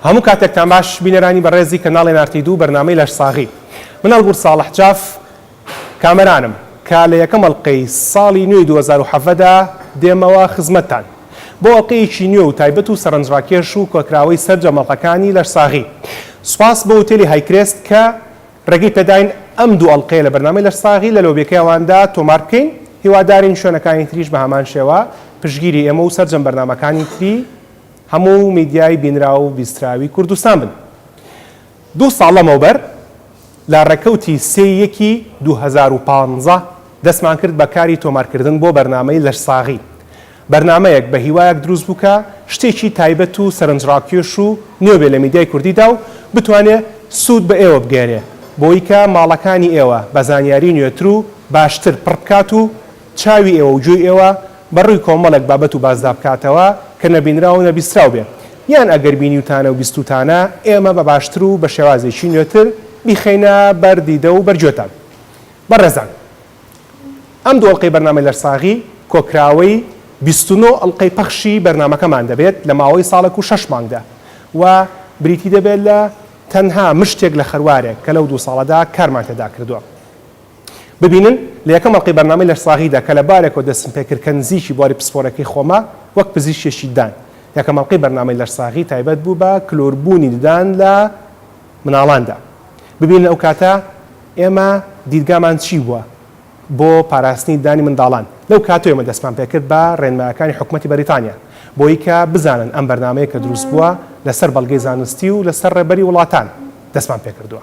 هەموو کاتێکتان باش بینەرانی بەڕێزی کەناڵی نارتی دوو بەرنامەی لەش ساغی من ئەلغور ساڵح جاف کامەرانم کە لە یەکەم ئەڵقەی ساڵی نوێی دوو هەزار و حەڤدە دا دێمەوە خزمەتتان بۆ ئەڵقەیەکی نوێ و تایبەت و سەرنجڕاکێش و کۆکراوەی سەرجەم ئەڵقەکانی لەش ساغی سوپاس بۆ هوتێلی هایکرێست کە ڕێگەی پێداین ئەم دوو ئەڵقەیە لە بەرنامەی لەش ساغی لە لۆبیەکەی ئەوان دا تۆمار بکەین هیوادارین شوێنەکانی تریش بە هەمان شێوە پشتگیری ئێمە و سەرجەم بەرنامەکانی تری هەموو میدیای بینراو و بیستراوی کوردستان بن. دوو ساڵ لەمەوبەر لە ڕێکەوتی سێ ی یەکی دوو هەزار و پازدە دەستمان کرد بە کاری تۆمارکردن بۆ بەرنامەی لەشساغی. بەرنامەیەک بە هیوایەک دروست بوو کە شتێکی تایبەت و سەرنجڕاکێش و نوێ بێ لە میدیای کوردیدا و بتوانێ سوود بە ئێوە بگەیەنێ بۆیکە ماڵەکانی ئێوە بە زانیاری نوێتر و باشتر پڕ بکات و چاوی ئێوە و گوێی ئێوە بە ڕووی کۆمەڵێک بابەت و باسدا بکاتەوە کە نەبینراو و نەبیستراو بێ، یان ئەگەر بینیوتانە و بیستووتانە، ئێمە بە باشتر و بە شێوازێکی نوێتر بیخەینە بەر دیدە و بەر گوێتان. بەڕێزان ئەم دوو ئەڵقەی بەرنامەی لەرساغی، کۆکراوەی بیست و نۆ ئەڵقەی پەخشی بەرنامەکەمان دەبێت لە ماوەی ساڵێک و شەش مانگدا و بریتی دەبێت لە تەنها مشتێک لە خەروارێک کە لەو دوو ساڵەدا کارمان تێدا کردووە. ببینن لە یەکەم ئەڵقەی بەرنامەی لەشساغیدا کە لە بارێکەوە دەستم پێ کرد کە نزیکی بواری پسپۆرەکەی خۆمە وەک پزیشکێکی ددان. یەکەم ئەڵقەی بەرنامەی لەشساغی تایبەت بوو بە کلۆربوونی ددان لە مناڵاندا. ببینن ئەو کاتە ئێمە دیدگامان چی بووە بۆ پاراستنی ددانی منداڵان. لەو کاتەوە ئێمە دەستمان پێ کرد بە رێنمایەکانی حکومەتی بەریتانیا بۆی کە بزانن ئەم بەرنامەیە کە دروست بووە لە سەر بەڵگەی زانستی و لە سەر رێبەری وڵاتان دەستمان پێ کردووە.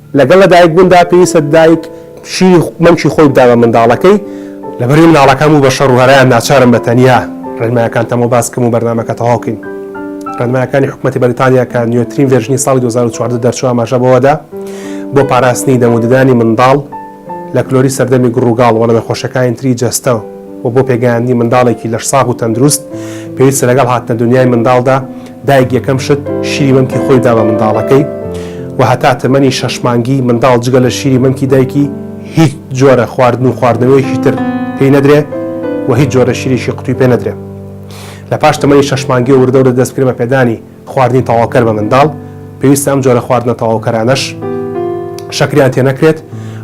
لەگەڵ لەدایکبووندا پێویستە دایک شیری مەمکی خۆی بدا بە منداڵەکەی، لەبەرئەوەی مناڵەکان بوو بە شەڕ و هەرایان ناچارم بە تەنیا ڕێنمایەکانتەمەوە باس بکەم و بەرنامەکە تەواو بکەین. ڕێنمایەکانی حکومەتی بەریتانیا کە نوێترین ڤێرژنی ساڵی دوو هەزار و چواردە دەرچووە ئاماژە بەوەدا بۆ پاراستنی دەم و ددانی منداڵ، لە کلۆری سەردەمی گڕوگاڵ و لە نەخۆشەکانی تری جەستە و بۆ پێگەیاندنی منداڵێکی لەشساغ و تەندروست، پێویستە لەگەڵ هاتنە دونیای منداڵدا دایک یەکەم شت شیری مەمکی خۆی بدا بە منداڵەکەی و هەتا تەمەنی شەش مانگی منداڵ جگە لە شیری مەمکی دایکی هیچ جۆرە خواردن و خواردنەوەیەکی تر پێی نەدرێ و هیچ جۆرە شیرێکی قوتوی پێ نەدرێ لە پاش تەمەنی شەش مانگی و وردەوردە دەست بکرێ بە پێدانی خواردنی تەواوکەر بە منداڵ، پێویستە ئەم جۆرە خواردنە تەواوکەرانەش شەکریان تێنەکرێت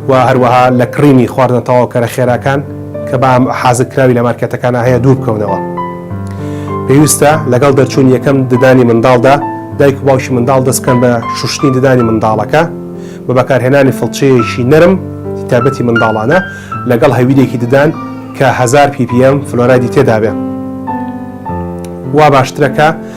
و هەروەها لە کڕینی خواردنە تەواوکەرە خێراکان کە بە حازرکراوی لە مارکێتەکانا هەیە دوور بکەونەوە. پێویستە لەگەڵ دەرچوونی یەکەم ددانی منداڵدا دایک و باوکی منداڵ دەست بکەن بە شوشتنی ددانی منداڵەکە بە بەکارهێنانی فڵچەیەکی نەرم تایبەتی منداڵانە لەگەڵ هەویرێکی ددان کە هەزار ppm فلۆرایدی تێدابێت. وا باشترە کە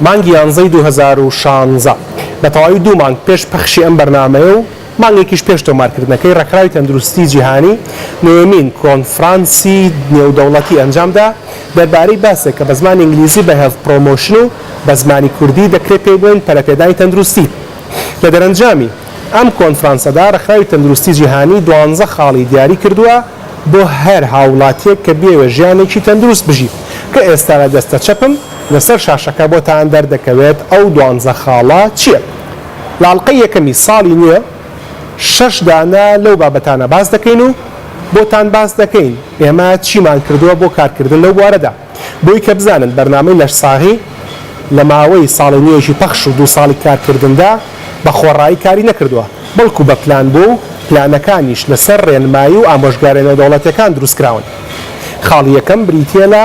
مانگی یانزەی دوو هەزار و شانزە، بە تەواوی دوو مانگ پێش پەخشی ئەم بەرنامەیە و مانگێکیش پێش تۆمارکردنەکەی، ڕێکخراوی تەندروستیی جیهانی نۆیەمین کۆنفرانسی نێودەوڵەتی ئەنجامدا دەربارەی باسێک کە بە زمانی ئینگلیزی بە Health Promotion و بە زمانی کوردی دەکرێ پێی بڵێین پەرەپێدانی تەندروستی. لە دەرەنجامی ئەم کۆنفرانسەدا ڕێکخراوی تەندروستی جیهانی دوانزە خاڵی دیاری کردووە بۆ هەر هاووڵاتییەک کە بیەوێ ژیانێکی تەندروست بژی کە ئێستا لە دەستە چەپم لەسەر شاشەکە بۆتان دەردەکەوێت ئەو دوانزە خاڵە چیە لەئەڵقەی یەکەمی ساڵی نوێ شەش دانە لەو بابەتانە باس دەکەین و بۆتان باس دەکەین ئێمە چیمان کردوە بۆ کارکردن لەو بوارەدا بۆی کە بزانن بەرنامەی لەشساغی لەماوەی ساڵی نوێژی پەخش و دوو ساڵی کارکردندا بە خۆڕایی کاری نەکردوە بەڵکو بە پلان بوە و پلانەکانیش لەسەر ڕێنمایی و ئامۆژگارە نێودەوڵەتیەکان دروستکراون خاڵی یەکەم بریتیە لە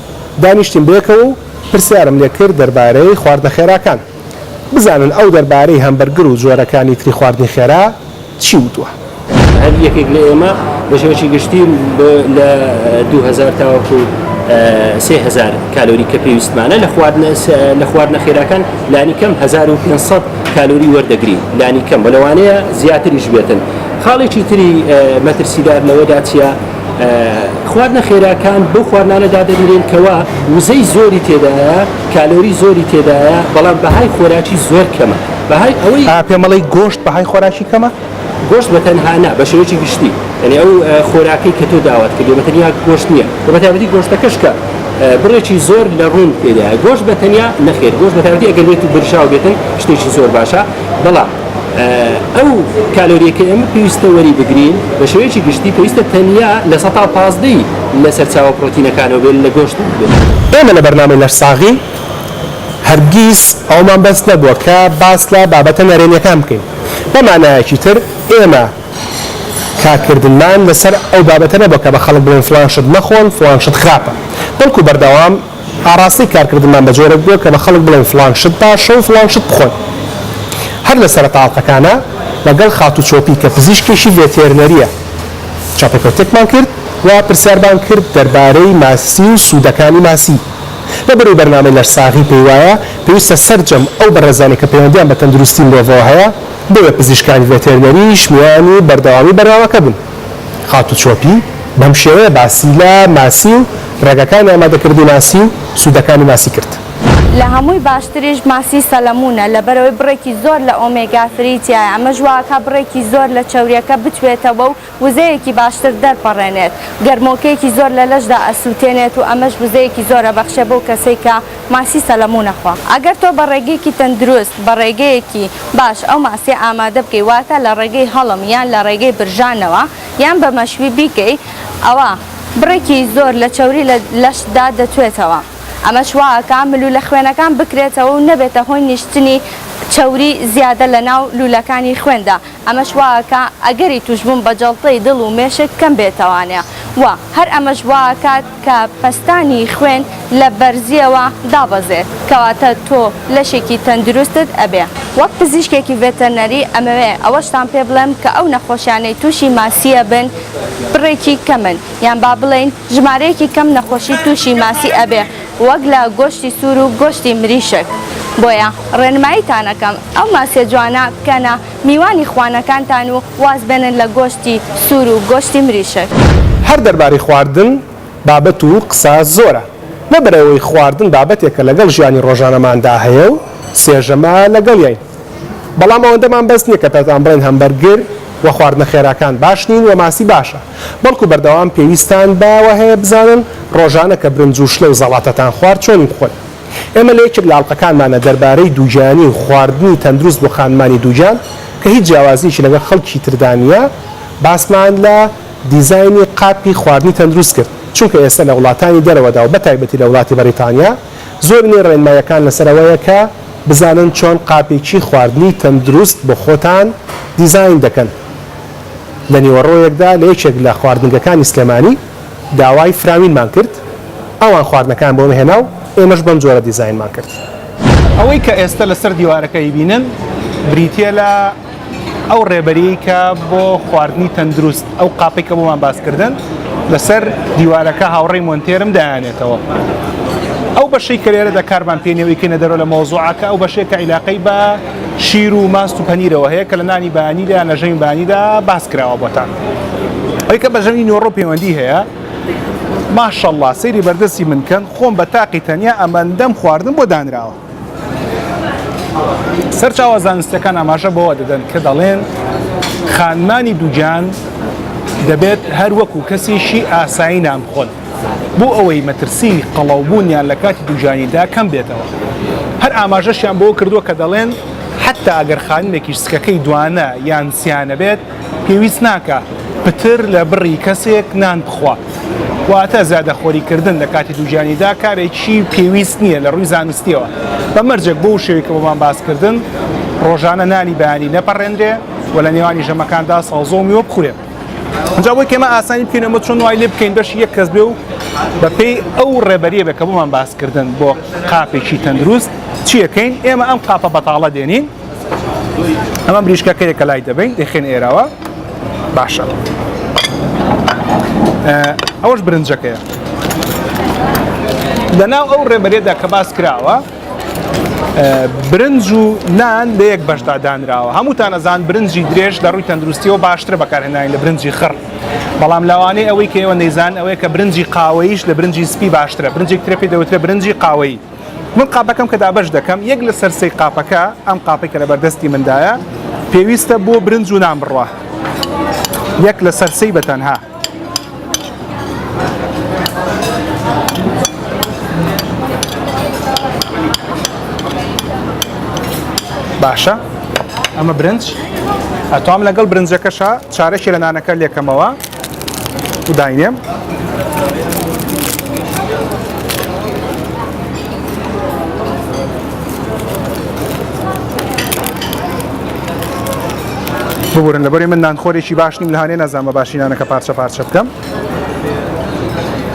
دانیشتین بەیەکەوە و پرسیارم لێ کرد دەربارەی خواردنە خێراکان بزانن ئەو دەربارەی هەمبەرگر و جۆرەکانی تری خواردنی خێرا چی وتووە. هەر یەکێک لە ئێمە بە شێوەیەکی گشتی بۆ لە دوو هەزار تاوەکو سێ هەزار کالۆری کە پێویستمانە لە خواردنە لە خواردنە خێراکان لانی کەم هەزار و پێنج سەد کالۆری وەردەگرین لانی کەم و لەوانەیە زیاتریش بێتن. خاڵێکی تری مەترسیدار لەوەدا چییە؟ خواردنە خێراکان بەو خواردنانە دادەنرێن کەوا وزەی زۆری تێدایە کالۆری زۆری تێدایە بەڵام بەهای خۆراکی زۆر کەمە بەهای ئەوەی پێمەڵی گۆشت بەهای خۆراکی کەمە گۆشت بە تەنهانا بە شێوەیەکی گشتی یعنی ئەو خۆراکەی کە تۆ داوات کردێ بە تەنیا گۆشت نییە و بە تابەتی گۆشتەکەش کە بڕێکی زۆر لە ڕوون پێدایە گۆشت بە تەنیا نەخێر گۆشت بە تابەتی ئەگەر بێت و برژاو بێتن شتێکی زۆر باشە بەڵام ئەو کالۆریە کە ئێمە پێویستە وەری بگرین بە شێوەیەکی گشتی پێویستە تەنیا لە سە پازدەی لە سەرچاوە پرۆتینەکانەوە بێت لە گۆشت بێت ئێمە لە بەرنامەی لەشساغی هەرگیز ئەومان بەس نەبووە کە باس لە بابەتە نەرێنیەکان بکەین بە مانایەکی تر ئێمە کارکردنمان لەسەر ئەو بابەتە نەبووە کە بە خەڵک بڵێن فڵان شت مەخۆن فڵان شت خراپە بەڵکو بەردەوام ئاڕاستەی کارکردنمان بە جۆرێک بووە کە بە خەڵک بڵێین فڵان شت باشە و فڵان شت بخۆن. هەر لە سەرەتا ئەڵقەکانا لەگەڵ خاتوو چۆپی کە پزیشکێکی ڤێتێرنەرییە چاوپێکەوتنێکمان کرد و پرسیارمان کرد دەربارەی ماسی و سوودەکانی ماسی. لە بەرەی بەرنامەی لەشساغی پێی وایە پێویستە سەرجەم ئەو بەڕێزانەی کە پەیوەندییان بە تەندروستی مرۆڤەوە هەیە، بۆیە پزیشکانی ڤێتێرنەریش میوانی بەردەوامی بەرنامەکە بوون. خاتوو چۆپی بەم شێوەیە باسی لە ماسی و ڕێگاکانی ئامادەکردنی ماسی و سوودەکانی ماسی کرد. لە هەمووی باشتریش ماسی سەلەموونە، لەبەرئەوەی بڕێکی زۆر لە ئۆمێگا فری تیایە، ئەمەش وائەکا بڕێکی زۆر لە چەورییەکە بتوێتەوە و وزەیەکی باشتر دەرپەڕێنێت. گەرمۆکەیەکی زۆر لە لەشدا ئەسووتێنێت و ئەمەش وزەیەکی زۆر ئەبەخشێت بەو کەسەی کە ماسی سەلەموو نەخوا. ئەگەر تۆ بە ڕێگەیەکی تەندروست، بە ڕێگەیەکی باش ئەو ماسیە ئامادە بکەی، واتە لە ڕێگەی هەڵم یان لە ڕێگەی برژانەوە یان بە مەشوی بیکەی، ئەوا بڕێکی زۆر لە چەوری لە لەشتدا دەتوێتەوە، ئەمەش وا ئەکا ملوولە خوێنەکان بکرێتەوە و نەبێتە هۆی نیشتنی چەوری زیادە لە ناو لوولەکانی خوێندا، ئەمەش وائەکا ئەگەری توشبوون بە جەڵتەی دڵ و مێشک کەم بێتەوانێ و هەر ئەمەش وائەکات کە پەستانی خوێن لە بەرزیەوە دابەزێت کەواتە تۆ لەشێکی تەندروستت ئەبێ. وەک پزیشکێکی ڤێتەرنەری ئەمەوێ ئەوەشتان پێ بڵێم کە ئەو نەخۆشیانەی توشی ماسی ئەبن بڕێکی کەمن یان با بڵێین ژمارەیەکی کەم نەخۆشی توشی ماسی ئەبێ وەک لە گۆشتی سوور و گۆشتی مریشک. بۆیە ڕێنماییتان ئەکەم ئەو ماسیە جوانە بکەنە میوانی خوانەکانتان و واز بێنن لە گۆشتی سوور و گۆشتی مریشک. هەر دەربارەی خواردن بابەت و قسە زۆرە، لەبەرئەوەی خواردن بابەتێکە لەگەڵ ژیانی ڕۆژانەماندا هەیە و سێ ژەمە لەگەڵیین. بەڵام ئەوەندەمان بەس نییە کە پێتان بڵێین هەمبەرگر و خواردنە خێراکان باش نین و ماسی باشە، بەڵکو بەردەوام پێویستتان بەوە هەیە بزانن ڕۆژانە کە برنج و شلە و زەڵاتەتان خوارد چۆنی بخۆن. ئێمە لە یەکێک لە ئەڵقەکانمانە دەربارەی دووگیانی و خواردنی تەندروست بۆ خانمانی دووگیان کە هیچ جیاوازییەکی لەگەڵ خەڵکی تردا نییە باسمان لە دیزاینی قاپی خواردنی تەندروست کرد چونکە ئێستا لە وڵاتانی دەرەوەدا و بەتایبەتی لە وڵاتی بەڕیتانیا زۆر لێ ڕێنمایەکان لەسەر ئەوەیە کە بزانن چۆن قاپێکی خواردنی تەندروست بۆ خۆتان دیزاین دەکەن لە نیوەڕۆیەکدا لە یەکێک لە خواردنگەکانی سلێمانی داوای فراوینمان کرد ئەوان خواردنەکان بۆمە هێنا و ئێمەش بەم جۆرە دیزاینمان کرد. ئەوەی کە ئێستە لەسەر دیوارەکە ئەیبینن بریتیە لە. ئەو ڕێبەریی کە بۆ خواردنی تەندروست ئەو قاپەی کە بۆمان باسکردن لەسەر دیوارەکە هاوڕێی مۆنتێرم دایانێتەوە ئەو بەشەی کەێرە دەکارمان پێێنەوەی کە نەدەرەوە لە مۆزوعەکە ئەو بەشێکە عیلاقەی بە شیر و ماست و پەنیرەوە هەیە کە لە نانی بانیدا لە ژەنگ بانیدا باس کراوە بۆتان ئەوکە بە ژەنی نۆڕۆ پەیوەندی هەیە ماشەڵڵا سەیری بەردەستی من کەن خۆم بە تاقی تەنیا ئەمەندەم خواردن بۆ دانراوە سەرچاوە زانستیەکان ئاماژە بەوە دەدەن کە دەڵێن خانمانی دووگیان دەبێت هەر وەکو کەسیشی ئاسایی نان بخۆن بۆ ئەوەی مەترسی قەڵەوبوونیان لە کاتی دووجانیدا کەم بێتەوە هەر ئاماژەشیان بۆ کردووە کە دەڵێن حتا ئەگەر خانمێکیش سکەکەی دوانە یان سیانە بێت پێویست ناکا پتر لە بڕی کەسێک نان بخوا. واتە زیادەخۆری کردن لە کاتی دووگیانیدا کارێکی پێویست نییە لە ڕووی زانستییەوە. بە مەرجێک بەو شێوەی کە بۆمان باس کردن ڕۆژانە نانی بەیانی نەپەڕێنرێ و لە نێوانی ژەمەکاندا سەوزە و میوە بخورێ. جا بۆی کەمە ئاسانی بکەین ئەمە چۆن وای لێ بکەین بەشی یەک کەس بێ و بەپێی ئەو ڕێبەریە بێ کە بۆمان باس کردن بۆ قاپێکی تەندروست چیەکەین ئێمە ئەم قاپە بەتاڵە دێنین ئەمە بریشکەکەیە کە لای دەبین دەخێن ئێراوە باشە ئەوەش برنجەکەیە لەناو ئەو ڕێبەرێدا کە باس کراوە برنج و نان لە یەک بەشدا دانراوە هەمووتان ئەزان برنجی درێژ لە ڕووی تەندروستیەوە باشتر بەکارهێنانی لە برنجی خڕ بەڵام لاوانەی ئەوەی کەەوە نەیزان ئەوەیە کە برنجی قاوەیش لە برنجی سپی باشترە برنجێک ترەپی دەوترە برنجی قاوەی من قاپەکەم کە دابەش دەکەم یەک لە سەر سێی قاپەکە ئەم قاپەی کە لە بەردەستی مندایە پێویستە بۆ برنج و نان بڕە یەک لە سەر سێی بە تەنها باشە ئەمە برنج ئەتوام لەگەڵ برنجەکەشە چارەکی لە نانەکە لێکەمەوە داینێم ببورن لەبەری من نانخۆرێکی باش نیم لەهانێ نازانمە باشینانەکە پارچە پارچە بکەم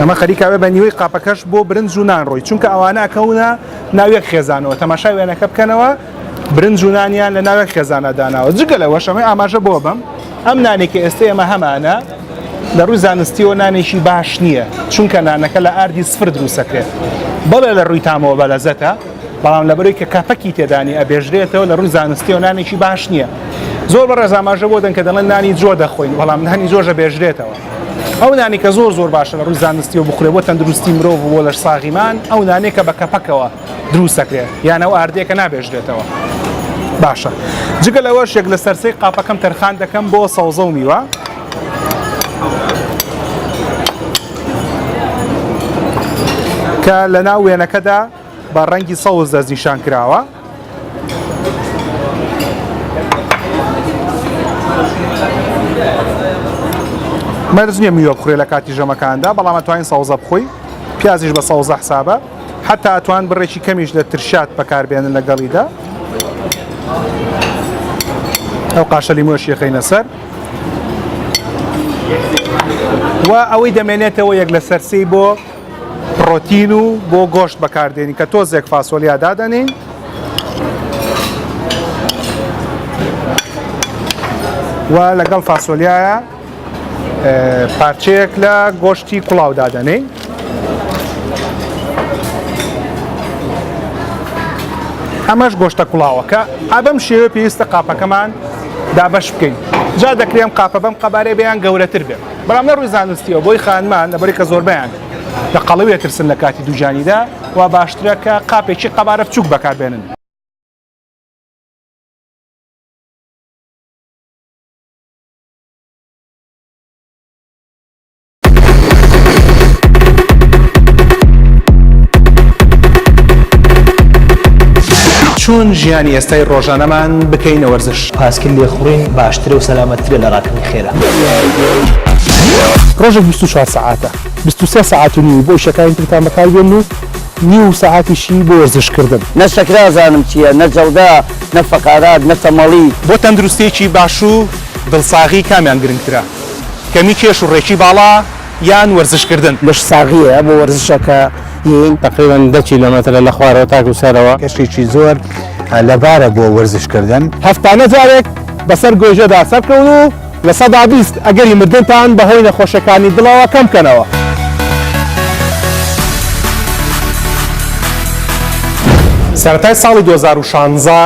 ئەمە خەریکاوێ بە نیوەی قاپەکەش بۆ برنج و نان ڕۆی چونکە ئەوانە ئەکەونە ناوێک خێزانەوە تەماشا وێنەکە بکەنەوە برنج و نانیان لە ناوێک خێزانە داناوە جگە لەوەش ئەمەی ئاماژە بۆ بم ئەم نانێک کە ئێستا ئێمە هەمانە لە ڕووی زانستیەوە نانێکی باش نییە چونکە نانەکە لە ئاردی سفر دروستەکرێت بەڵێ لە ڕووی تامەوە بە لەزەتە بەڵام لە بەروی کە کاپەکی تێدانی ئەبێژرێتەوە لە ڕووی زانستیەوە نانێکی باش نییە زۆر بە ڕێزاماژە بۆ دەن کە دەڵێن نانی زۆر دەخۆین بەڵام نانی زۆرژە بێژرێتەوە ئەو نانی کە زۆر زۆر باشە لە ڕووی زانستی و بخورێ بۆ تەندروستی مرۆڤ بۆ لەش ساغیمان ئەو نانێکە بە کەپەکەوە دروست دەکرێت یان ئەو ئاردەیە کە نابێژرێتەوە باشە جگە لەوەش یەک لە سەرسەی قاپەکەم تەرخان دەکەم بۆ سەوزە و میوە کە لە ناو وێنەکەدا بە ڕەنگی سەوز دەستنیشان کراوە مەرز نیە میوە بخورێ لە کاتی ژەمەکاندا بەڵام توانین سەوزە بخۆی پیازیش بە سەوزە حسابە هەتا ئەتوان بڕێکی کەمیش لە ترشات بەکاربێنن لەگەڵیدا ئەو قاشە لیمۆش یەخینە سەر و ئەوەی دەمێنێتەوە یەک لە سەرسی بۆ پرۆتین و بۆ گۆشت بەکاردێنی کە تۆزێک فاسۆلیا دادەنین و لەگەڵ فاسۆلیایە پارچەیەک لە گۆشتی کوڵاو دادەنین ئەمەش گۆشتە کوڵاوەکە ئابم شێوە پێویستە قاپەکەمان دابش بکەین جا دەکرێم قاپە بەم قەبارەی بەیان گەورەتر بێت بەڵام لە ڕووی زانستیەوە بۆی خانمان لەبەری کە زۆربیان لە قەڵەوێ ترسن لە کاتی دووجانیدا و باشترە کە قاپێکی قەبارە بچوک بەکاربێنن چۆن ژیانی ئێستای ڕۆژانەمان بکەینە وەرزش پاسکیل لێخوڕین باشترە و سەلامەتترە لە ڕاکردنی خێرا ڕۆژێک 24 سعاتە 23 سعات و نیو بۆ ئیشەکانی ترتان بەکاربێن و نیو سعاتیشی بۆ وەرزشکردن نە شەکرا زانم چییە نە جەڵدە نە فەقارات نە تەمەڵی. بۆ تەندروستییەکی باش و دڵساغی کامیان گرنگترە، کەمی کێش و ڕێکی باڵا یان وەرزشکردن؟ لەشساغییە بۆ وەرزشەکەین. تەقریبەن دە کیلۆمەترە لە خوارەوە تاکوو سەرەوە. کەشێکی زۆر لەبارە بۆ وەرزشکردن. هەفتانە جارێک بەسەر گۆیژەدا سەرکەون و لە سەدا بیست ئەگەری مردنتان بە هۆی نەخۆشیەکانی دڵەوە کەم بکەنەوە. سەرەتای ساڵی دوو هەزار و شانزە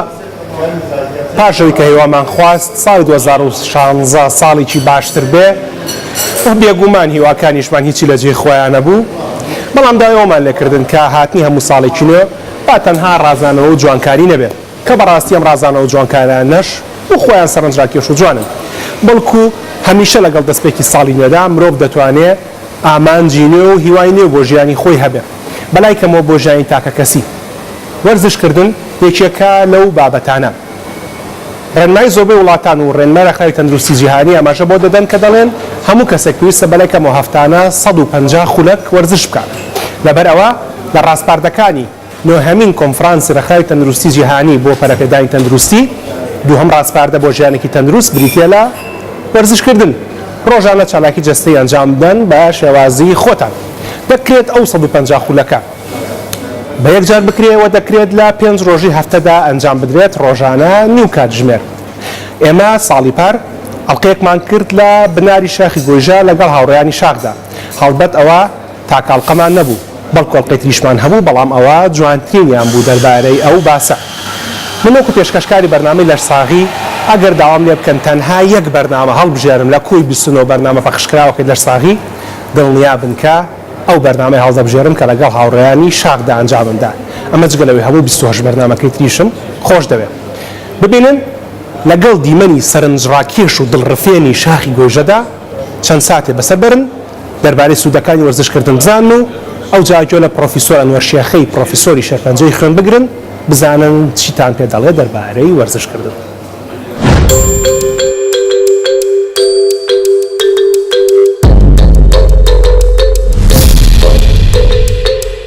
پاش ئەوی کە هیوامان خواست ساڵی دوو هەزار و شانزە ساڵێکی باشتر بێ و بێگومان هیواکانیشمان هیچی لە جێی خۆیان نەبوو بەڵام داوای ئەوەمان لێ کردن کە هاتنی هەموو ساڵێکی نوێ با تەنها ڕازانەوە و جوانکاری نەبێ. کە بەڕاستی ئەم ڕازانە و جوانکارانەش بۆ خۆیان سەرنجراکێش و جوانن، بەڵکو هەمیشە لەگەڵ دەستپێکی ساڵی نوێدا مرۆڤ دەتوانێ ئامانجی نوێ و هیوای نوێ بۆ ژیانی خۆی هەبێ، بەلای کەمەوە بۆ ژیانی تاکەکەسی. وەرزشکردن یەکێکە لەو بابەتانە. ڕێنمای زۆربەی وڵاتان و ڕێنمای ڕێکخراوی تەندروستی جیهانی ئاماژە بەوە دەدەن کە دەڵێن هەموو کەسێک پێویستە بەلای کەمەوە هەفتانە سەد و پەنجا خولەک وەرزش بکات، لەبەرئەوە لە ڕاسپاردەکانی. نۆهەمین کۆنفرانسی ڕێکخراوی تەندروستی جیهانی بۆ پەرەپێدانی تەندروستی، دووهەم ڕاسپاردە بۆ ژیانێکی تەندروست بریتییە لە وەرزشکردن. ڕۆژانە چالاکی جەستەیی ئەنجامبدەن بە شێوازی خۆتان. دەکرێت ئەو سەد و پەنجا خولەکە بە یەکجار بکرێ و دەکرێت لە پێنج ڕۆژی هەفتەدا ئەنجامبدرێت، ڕۆژانە نیو کاتژمێر. ئێمە ساڵی پار ئەڵقەیەکمان کرد لە بناری شاخی گۆیژە لەگەڵ هاوڕێیانی شاخدا. هەڵبەت ئەوە. تاک ئەڵقەمان نەبوو بەڵکو ئەڵقەی تریشمان هەبوو بەڵام ئەوە جوانترینیان بوو دەربارەی ئەو باسە من وەکو پێشکەشکاری بەرنامەی لەشساغی ئەگەر داوام لێ بکەن تەنها یەک بەرنامە هەڵبژێرم لە کۆی بیست و نۆ بەرنامە پەخشکراوەکەی لەشساغی دڵنیا بن کە ئەو بەرنامەیە هەڵدەبژێرم کە لەگەڵ هاوڕێیانی شاخدا ئەنجامم دا ئەمە جگە لەوەی هەموو بیست و هەشت بەرنامەکەی تریشم خۆش دەوێ ببینن لەگەڵ دیمەنی سەرنجڕاکێش و دڵڕفێنی شاخی گۆیژەدا چەند ساتێ بەسەر بەرن. دەربارەی سوودەکانی وەرزشکردن بزانن و ئەوجا گوێ لە پڕۆفیسۆر ئەنوەر شێخی پڕۆفیسۆری شێرپەنجەی خوێن بگرن بزانن چیتان پێ دەڵێت دەربارەی وەرزشکردن.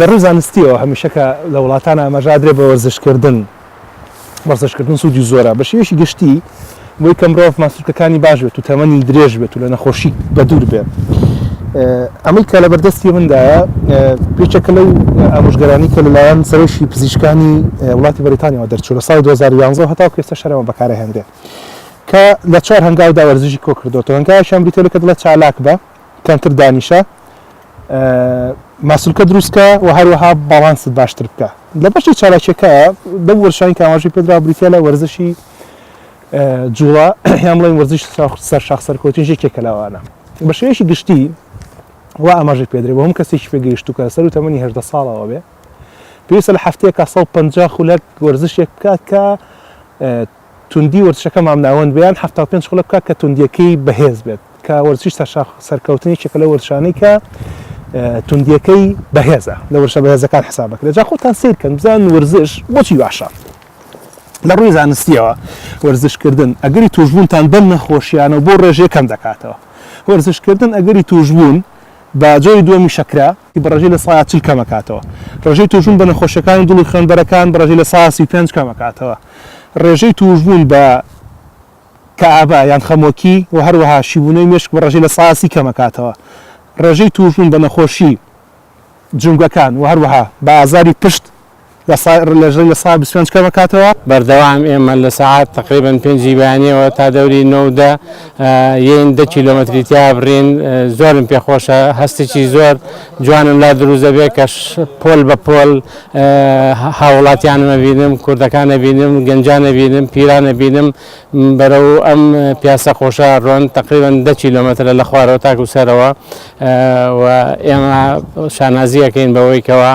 لە ڕووی زانستییەوە هەمیشە کە لە وڵاتان ئاماژە ئەدرێت بە وەرزشکردن، وەرزشکردن سوودی زۆرە بە شێوەیەکی گشتی بۆی کە مرۆڤ ماسولکەکانی باش بێت و تەمەنی درێژ بێت و لە نەخۆشی بەدوور بێت ئەمەی کە لە بەردەستی مندایە پێچەکە لەو ئامۆژگەرانی کە لەلایەن سەرۆکی پزیشکانی وڵاتی بەریتانیەوە دەرچوو لە ساڵی 2011 هەتا کێسە شەرەوە بەکارە هێندێ کە لە چوار هەنگاودا وەرزشی کۆ کردوەوە هەنگاوی شەمبریتەوە کە دڵە چالاک بە کەمتر دانیشە ماسولکە دروستکە و هەروەها باڵانست باشتر بکە لە بەشی چالاکیەکە دە وەرشانی کاماژی پێدرا بریتە لە وەرزشی جوڵە هیان بڵێن وەرزش سەر شاخ سەرکەوتن ژێکێک کەلاوانە بە شێوەیەکی گشتی و ئاماژە پێدرێ بۆ هەم کەسێکی پێگەیشت و کە سەر و تەمەنی هێشدە ساڵەوە بێ پێویستە لە هەفتەیەکە 150 خولەک وەرزشێک بکات کە توندی وەرزشەکە مامناوەند بێ یان حەفتا و پێنج خولەک بکات کە توندییەکەی بەهێز بێت کە وەرزشی سەرشاخ سەرکەوتن یەکێکە لەو وەرزشانەی کە توندییەکەی بەهێزە لە وەرزشە بەهێزەکان حساب دەکرێت جا خۆتان سەیر کەن بزانن وەرزش بۆچی باشە لە ڕووی زانستییەوە وەرزشکردن ئەگەری تووشبوونتان بەم نەخۆشییانە و بۆ ڕێژەیە کەم دەکاتەوە وەرزشکردن ئەگەری تووشبوون بە جۆری دووەمی شەکرە ی بە ڕێژەی لە سایە چل کەم ئەکاتەوە. ڕێژەی تووشبوون بە نەخۆشیەکانی دڵ و خوێنبەرەکان بە ڕێژەی لە سایە سی و پێنج کەم ئەکاتەوە. ڕێژەی تووشبوون بە کەئابە یان خەمۆکی و هەروەها شیبوونەوەی مێشک بە ڕێژەی لە سایە سی کەم ئەکاتەوە. ڕێژەی تووشبوون بە نەخۆشی جومگەکان و هەروەها بە ئازاری پشت لە سا لە ژێ لە سا بیست پێنج کەم ئەکاتەوە. بەردەوام ئێمە لە سەعات تەقریبەن پێنجی بەیانیەوە تا دەوری نۆ و دە یەین دە کیلۆمەتری تیا ئەبڕین زۆرم پێ خۆشە هەستێکی زۆر جوانم لا دروست دەبێت کە پۆل بە پۆل هاوڵاتیانمە بینم کوردەکانە بینم گەنجانە بینم پیرانە بینم بەرەو ئەم پیاسە خۆشە ڕۆن تقریبان دە کیلومترە لە خوارەوە تاکو سەرەوە و ئێمە شانازیەکەین بەوەی کەەوە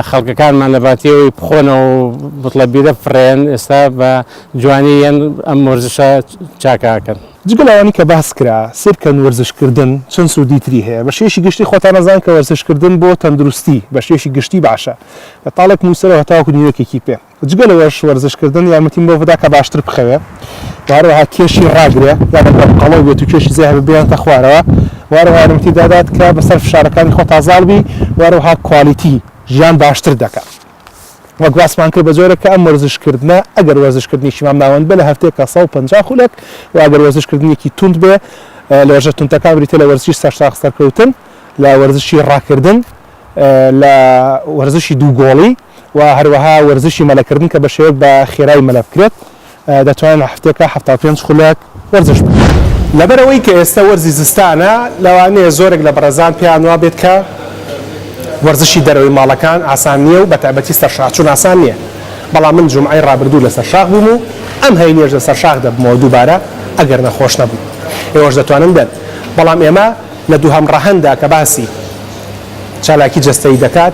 خەڵکەکانمان لە باتیەوەی بخۆنە و بڵە بیرە فڕێن ئێستا بە جوانی یەن ئەم مۆرزشە چاکاکەن. جگە لەوانی کە باس کرا سیرکەن وەرزشکردن چەند سوودی تری هەیە بە شێوەیەکی گشتی خۆتان ئەزان کە وەرزشکردن بۆ تەندروستی بە شێوەیەکی گشتی باشە لە تاڵێک نووسەرەوە هەتاوەکو نیوەکێکی پێ. جگە لەوەش وەرزشکردن یارمەتیم بەوە دەدا کە باشتر بخەوێ و هەروەها کێشی ڕاگرێ یان ئەگەر قەڵەو بێت و کێشی زێ هەبێ بێنێتە خوارەوە و هەروەها یارمەتی دادات کە بەسەر فشارەکانی خۆ تازاڵ بی و هەروەها کوالیتی ژیان باشتر دەکا وەک باسمان کرد بە جۆرێک کە ئەم وەرزشکردنە ئەگەر وەرزشکردنیشی مام ناوەند بێ لە هەفتەیەکە 150 خولەک و ئەگەر وەرزشکردنێکی توند بێ لە وەرزشە توندەکان بریتیە لە وەرزشی سەرساغ سەرکەوتن لە وەرزشی ڕاکردن لە وەرزشی دوو گۆڵی و هەروەها وەرزشی مەلەکردن کە بە شێوەک بە خێرای مەلە بکرێت دەتوانن لە هەفتەیەکا حەفتا و پێنج خولەک وەرزش بکەن. لەبەر ئەوەی کە ئێستە وەرزی زستانە لەوانەیە زۆرێک لە بەڕێزان پێیان وا بێت کە وەرزشی دەرەوەی ماڵەکان ئاسان نییە و بەتایبەتی سەر شاخ چوون ئاسان نییە بەڵام من جومعەی ڕابردوو لەسەر شاخ بووم و ئەم هەینیەش لەسەر شاخ دەبمەوە دووبارە ئەگەر نەخۆش نەبووم ئێوەش دەتوانن بێن بەڵام ئێمە لە دووهەم ڕەهەنددا کە باسی چالاکی جەستەیی دەکات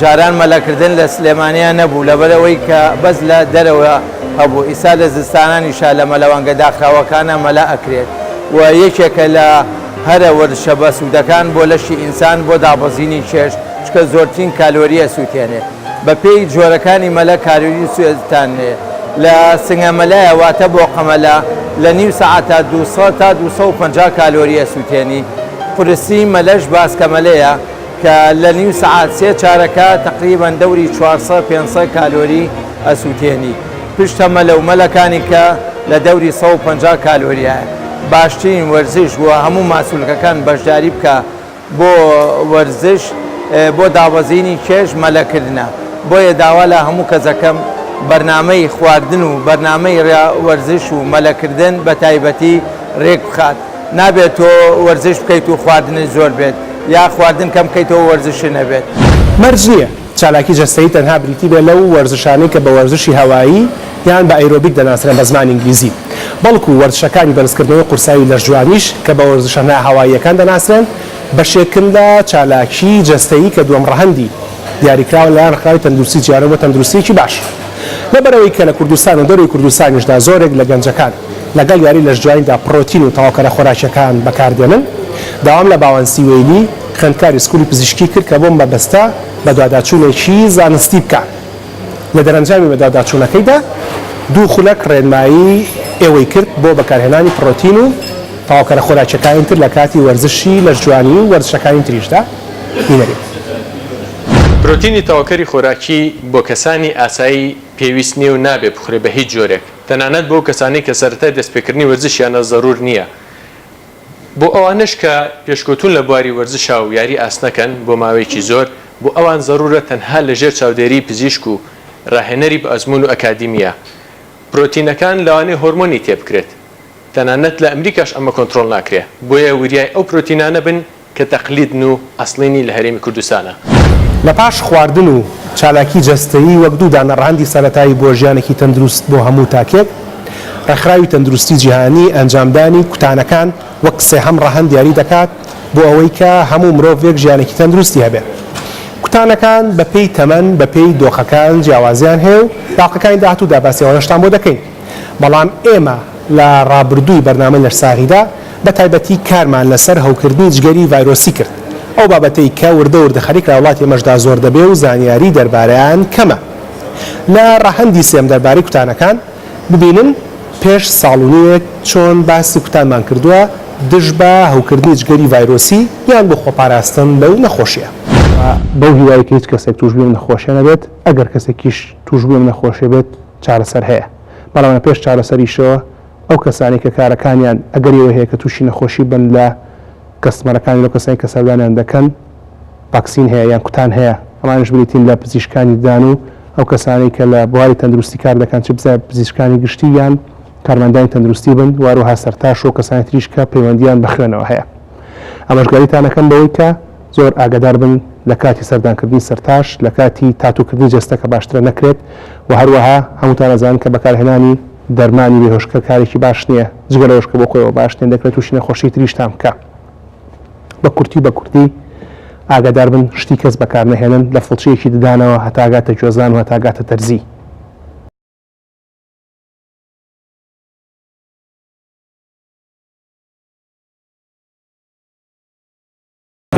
جاران مەلە کردن لە سلێمانیا نەبوو لەبەر ئەوەی کە بەس لە دەرەوە هەبوو ئیستا لە زستانانیشا لە مەلەوانگە داخراوەکانا مەلە ئەکرێت و یەکێکە لە هەرە وەرزشە بە سوودەکان بۆ لەشی ئینسان بۆ دابەزینی کێش چکە زۆرترین کالۆری ئەسوتێنێ بە پێی جۆرەکانی مەلە کالۆری سوێتانێ لە سنگە مەلایە واتە بۆقە مەلە لە نیو سەعاتا دوو سەد تا دوو سەد و پەنجا کالۆری ئەسوتێنی قورسی مەلەش باسکە مەلەیە کە لە نیو سەعات سێ چارەکە تەقریبەن دەوری چوار سەد پێنج سەد کالۆری ئەسووتێنی پشت تەمەلە و مەلەکانی کە لە دەوری سەد و پەنجا کالۆرییە باشترین وەرزش و هەموو ماسولکەکان بەشداری بکە بۆ وەرزش بۆ دابەزینی کێش مەلە کردنە بۆیە داوا لە هەموو کەس ئەکەم بەرنامەی خواردن و بەرنامەی وەرزش و مەلەکردن بە تایبەتی رێک بخات. نابێت تۆ وەرزش بکەیت و خواردنت زۆر بێت یا خواردن کەم بکەیتەوە و وەرزشت نەبێت. مەرج نییە چالاکی جەستەیی تەنها بریتی بێت لەو وەرزشانەی کە بە وەرزشی هەوایی یان بە ئەیرۆبیک دەناسرێن بە زمانی ئینگلیزی، بەڵکو وەرزشەکانی بەرزکردنەوەی قورسایی لەشجوانیش کە بە وەرزشە ناهەواییەکان دەناسرێن، بەشێکن لە چالاکی جەستەیی کە دووەم ڕەهەندی دیاریکراون لەلایەن ڕێکخراوی تەندروستی جیهانەوە بۆ تەندروستییەکی باش. لەبەرئەوەی کە لە کوردستان و دەرەوەی کوردستانیشدا زۆرێک لە گەنجەکان. لەگەڵ یاری لەشجوانیدا پڕۆتین و تەواوکەرە خۆراکییەکان بەکاردێنن. داوام لە باوەن سیوەیلی، خوێندکاری سکولی پزیشکی کرد کە بەو مەبەستە بەدواداچوونێکی زانستی بکات. لە دەرەنجامی بەدواداچوونەکەیدا دوو خولەک ڕێنمایی ئێوەی کرد بۆ بەکارهێنانی پڕۆتین و تەواوکەرە خۆراکییەکانی تر لە کاتی وەرزشی لەشجوانی و وەرزشەکانی تریشدا بینەریت. پرۆتینی تەواوکەری خۆراکی بۆ کەسانی ئاسایی پێویست نییە و نابێت بخورێت بە هیچ جۆرێک. تەنانەت بۆ کەسانەی کە سەرەتای دەستپێکردنی وەرزشیانە زەرور نییە. بۆ ئەوانەش کە پێشکەوتوون لە بواری وەرزشا و یاری ئاسنەکەن بۆ ماوەیەکی زۆر، بۆ ئەوان زەرورە تەنها لە ژێر چاودێریی پزیشک و راهێنەری بەئەزموون و ئەکادیمییە. پرۆتینەکان لەوانەیە هۆرمۆنی تێبکرێت. تەنانەت لە ئەمریکاش ئەمە کۆنترۆڵ ناکرێ. بۆیە وریای ئەو پرۆتینانە بن کە تەقلیدن و ئەسڵیی لە هەرێمی کوردستانە. لە پاش خواردن و چالاکی جەستەیی وەک دوو دانە ڕەهەندی سەرەتایی بۆ ژیانێکی تەندروست بۆ هەموو تاکێک، ڕێکخراوی تەندروستی جیهانی ئەنجامدانی کوتانەکان وەک سێهەم ڕەهەند دیاری دەکات بۆ ئەوەی کە هەموو مرۆڤێک ژیانێکی تەندروستی هەبێت. کوتانەکان بەپێی تەمەن بەپێی دۆخەکان جیاوازیان هەیە و باقەکانی داهاتوودا باسی ئەوانەشتان بۆ دەکەین. بەڵام ئێمە لە ڕابردووی بەرنامەی لەشساغیدا بە تایبەتی کارمان لەسەر هەوکردنی جگەری ڤایرۆسی کرد، ئەو بابەتەی کە وردە وردە خەریک لە وڵاتی ئێمەشدا زۆر دەبێ و زانیاری دەربارەیان کەمە. لە ڕەهەندی سێم دەربارەی کوتانەکان، ببینن پێش ساڵ و نیوێک چۆن باسی کوتانمان کردووە دژ بە هەوکردنی جگەری ڤایرۆسی یان بۆ خۆپاراستن لەو نەخۆشییە. بەو هیوایەی کە هیچ کەسێک تووشبووی ئەم نەخۆشییە نەبێت، ئەگەر کەسێکیش تووشبووی ئەم نەخۆشییە بێت، چارەسەر هەیە، بەڵام لە پێش چارەسەریشەوە ئەو کەسانەی کە کارەکانیان ئەگەری ئەوەی هەیە کە تووشی نەخۆشی بن لە کەستمەرەکانی لەو کەسانەی کە سەردانیان دەکەن ڤاکسین هەیە یان کوتان هەیە، ئەمانیش بریتین لە پزیشکانی ددان و ئەو کەسانەی کە لە بواری تەندروستی کار دەکەن چ پزیشکانی گشتی یان کارمەندانی تەندروستی بن و هەروەها سەرتاش و کەسانی تریش کە پەیوەندییان بە خوێنەوە هەیە ئامۆژگاریتان ئەکەم بەوەی کە زۆر ئاگادار بن لە کاتی سەردانکردنی سەرتاش لە کاتی تاتووکردنی جەستە کە باشترە نەکرێت و هەروەها هەمووتان ئەزانن کە بەکارهێنانی دەرمانی بێهۆشکەر کارێکی باش نییە جگە لەوەش کە بۆ خۆیەوە باش نییە دەکرێت تووشی نەخۆشی تریشتان بکا بە کورتی بە کوردی ئاگادار بن شتی کەس بەکار نەهێنن لە فڵچەیەکی ددانەوە هەتاگاتە گوێزان و هەتاگاتە دەرزی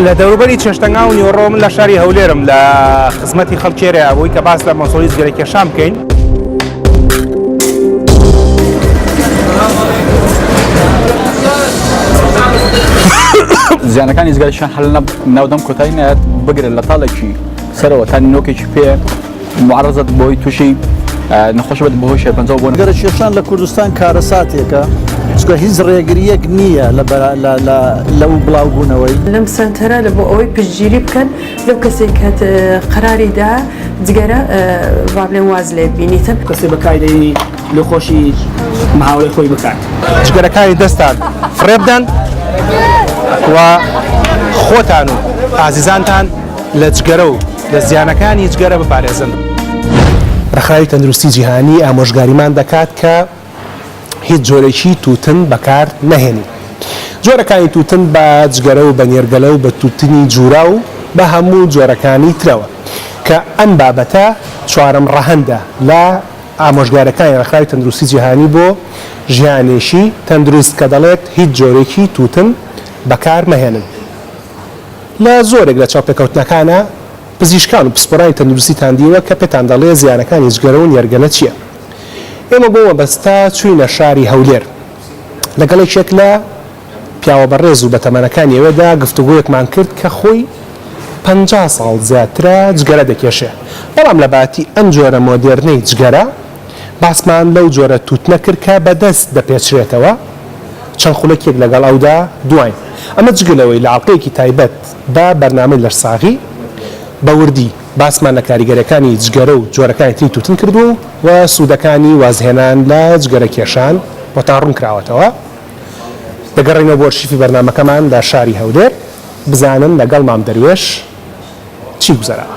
لە دەوروبەری چێشتەنگا و نیۆڕۆ من لە شاری هەولێرم لە خزمەتی خەڵکێرە ئەوەی کە باس لە مەسۆی زگەرە کێشان بکەین. زیانەکانی زگەرشان هەل ناودەم کۆتای نایەت بگرن لە تاڵێکی سەرەوە تا نۆکێکی پێ معرضت بۆی تووشی نەخۆش بێت بەهۆی شێرپەنجە بۆ گەرە کێشان لە کوردستان کارەساتێکە چکە هیچ ڕێگریەک نییە لە و بڵاوبوونەوەی لەم سنتەرە لە بۆ ئەوەی پشتگیری بکەن لەو کەسێک کە قەراریدا جگەرە ڕابلێن واز لێ بینیتە کەسێ بەکاری دەێنی لە خۆشی ماوەی خۆی بکات جگەرەکانی دەستان فڕێبدەن و خۆتان و ئازیزانتان لە جگەرە و لە زیانەکانی جگەرە بپارێزن. ڕێکخراوی تەندروستی جیهانی ئامۆژگاریمان دەکات کە هیچ جۆرێکی تووتن بەکار نەهێنین. جۆرەکانی تووتن بە جگەرە و بە نێرگەلە و بە تووتنی جووراو و بە هەموو جۆرەکانی ترەوە کە ئەم بابەتە چوارەم ڕەهەندە لە ئامۆژگارەکانی ڕێکخراوی تەندروستی جیهانی بۆ ژیانێکی تەندروست کە دەڵێت هیچ جۆرێکی تووتن بەکار مەهێنن. لە زۆرێک لە چاوپێکەوتنەکانا پزیشکان و پسپۆرانی تەندروستیتان دیوە کە پێتان دەڵێ زیانەکانی جگەرە و نێرگەلە چییە؟ ئێمە بۆ مەبەستە چووینە شاری هەولێر لەگەڵ یەکێک لە پیاوە بەڕێز و بەتەمەنەکانی ئەوێدا گفتوگۆیەکمان کرد کە خۆی پەنجا ساڵ زیاترە جگەرە دەکێشێ بەڵام لەباتی ئەم جۆرە مۆدێرنەی جگەرە باسمان لەو جۆرە تووتنە کرد کە بە دەست دەپێچرێتەوە، چەند خولەکێک لەگەڵ ئەودا دواین. ئەمە جگە لەوەی لە ئەڵقەیەکی تایبەت بە بەرنامەی لەشساغی، بە وردی باسمان لە کاریگەریەکانی جگەرە و جۆرەکانی تری تووتن کردووە و سوودەکانی وازهێنان لە جگەرەکێشان بۆتان ڕوونکراوەتەوە. دەگەڕێینەوە بۆ ئەرشیفی بەرنامەکەمان لە شاری هەولێر بزانن لەگەڵ مام دەروێش چی گوزەراوە.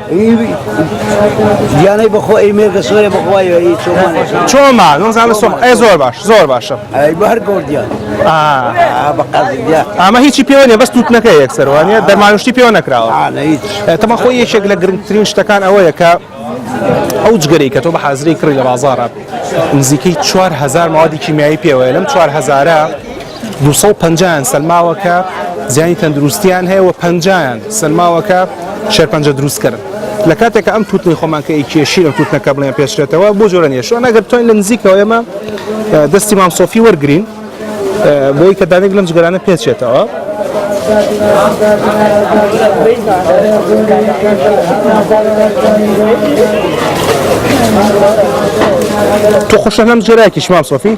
گیانەی بەخۆ ئەی مێرگە سۆرە بەخوای چۆما نزانە سۆم ئەی زۆر باش زۆر باشە ئەی بەر گۆردیان ئەمە هیچی پێوە نیە بەس تووتنەکە یەکسەروانە دەمانشتی پێوە نەکراوە تەمە خۆی یەکێک لە گرنگترین شتەکان ئەوەیە کە ئەو جگەری کە تۆ بە حازری کڕی لە بازارە نزیکەی 4هزار ماوەدی کیمیایی پێوەیە لەم 4هزارە دوو سەد و پەنجا یان سەلماوە کە زیانی تەندروستیان هەیە و پەنجایان سەلماوە کە شێرپەنجە دروستکەن لە کاتێکە ئەم توتنی خۆمان کە ئیکێشی لە توتنەکە بڵێن پێشرێتەوە بۆ جۆرە نیەشوە نەگەر توانین لە نزیکەوە ئێمە دەستی مام سۆفی وەرگین بۆی کە دانێک لەم جگەرانە پێچێتەوە تو خوشە نەم جێراکیش مام سۆفی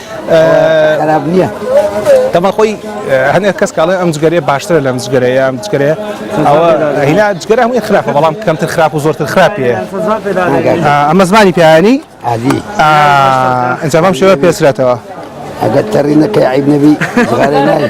خراپ نییە دەما خۆی هەنێک کەس کاڵێ ئەم جگەرێ باشترە لەم جگەرەیە ئەم جگەرێ ئەوە هینا جگەرە هەمووی خراپە بەڵام کەمتر خراپ و زۆرتر خراپیە ئەمە زمانی پیانی عادی ئەنجامام شێوە پێسرێتەوە ئەگەر تەڕینەکە عیب نەبی زغارە ناوی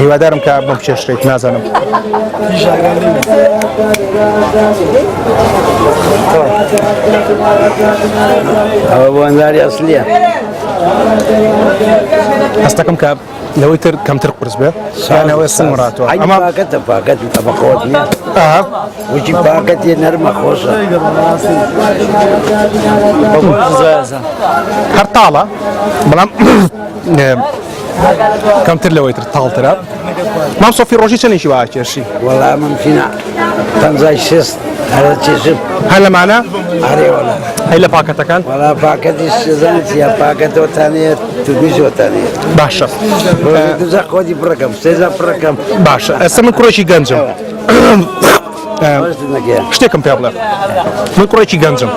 هیوادارم کە بم چێشتێک نازانم ئەوە بۆ ئەنداری ئەسلیە هەستەکەم کە لەوەی تر کەمتر قرس بێ سانەوەی سمڕاتەوە ئەمە پاکەتە پاکەت بە خۆت نیە وچی پاکەت یە نەرمە خۆشە هەر تاڵە بەڵام کەمتر لەوەی تر تاڵترە مام سۆفی ڕۆژی چەندێکی وا کێشی وەڵا ممکنە پەنجای شێست هەرە چێژم هەر لەمانە ئارێ وەڵا هەی لە پاکەتەکان وەڵا پاکەتی شێزان چیە پاکەتەوەتانێت توگویشوەتانێت باشە دوزە خۆدی پڕەکەم سێزە پڕەکەم باشە ئەسە من کوڕێکی گەنجم شتێکم پێ بڵێ من کوڕێکی گەنجم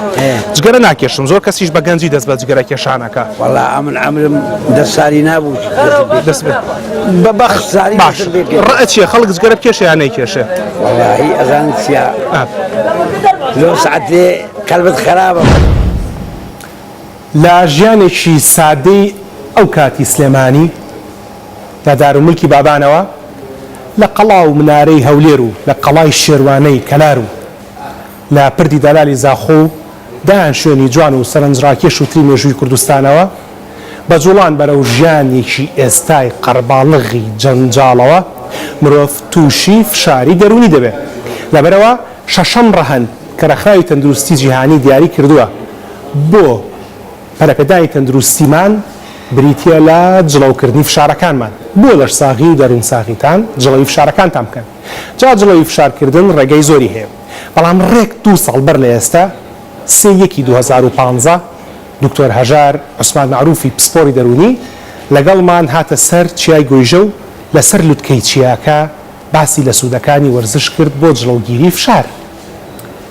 جگەرە ناکێشم زۆر کەسیش بە گەنجی دەست بە جگەرە کێشانەکە وڵا ئەمن ئەمرم دە ساری نابوو دەست بە بەخت ساری باش ڕەچیە خەڵک جگەرە کێشیان نەیکێشێ وڵی ئەزان سیا لۆ سعاتێ کەلبت خراپە. لە ژیانێکی سادەی ئەو کاتی سلێمانی لە دارولمولکی بابانەوە لە قەڵا و منارەی هەولێر و لە قەڵای شێروانەی کەلار و لە پردی دالالی زاخۆ و دەیان شوێنی جوان و سەرنجڕاکێش و تری مێژووی کوردستانەوە بە جوڵان بەرەو ژیانێکی ئێستای قەرباڵغی جەنجاڵەوە مرۆڤ تووشی فشاری دەروونی دەبێت لەبەرئەوە شەشەم ڕەهەند کە ڕێکخراوی تەندروستی جیهانی دیاری کردووە بۆ پەرەپێدانی تەندروستیمان بریتییە لە جڵەوکردنی فشارەکانمان، بۆ لەشساغی و دەروونساغیتان جڵەوی فشارەکانتان بکەن، جا جڵەوی فشارکردن ڕێگەی زۆری هەیە، بەڵام ڕێک دوو ساڵ بەر لە ئێستە سێ یەکی دوو هەزار و پازدە دکتۆر هەژار عوسمان مەعروفی پسپۆڕی دەروونی لەگەڵمان هاتە سەر چیای گۆیژە و لەسەر لوتکەی چیاکە باسی لە سوودەکانی وەرزش کرد بۆ جڵەوگیری فشار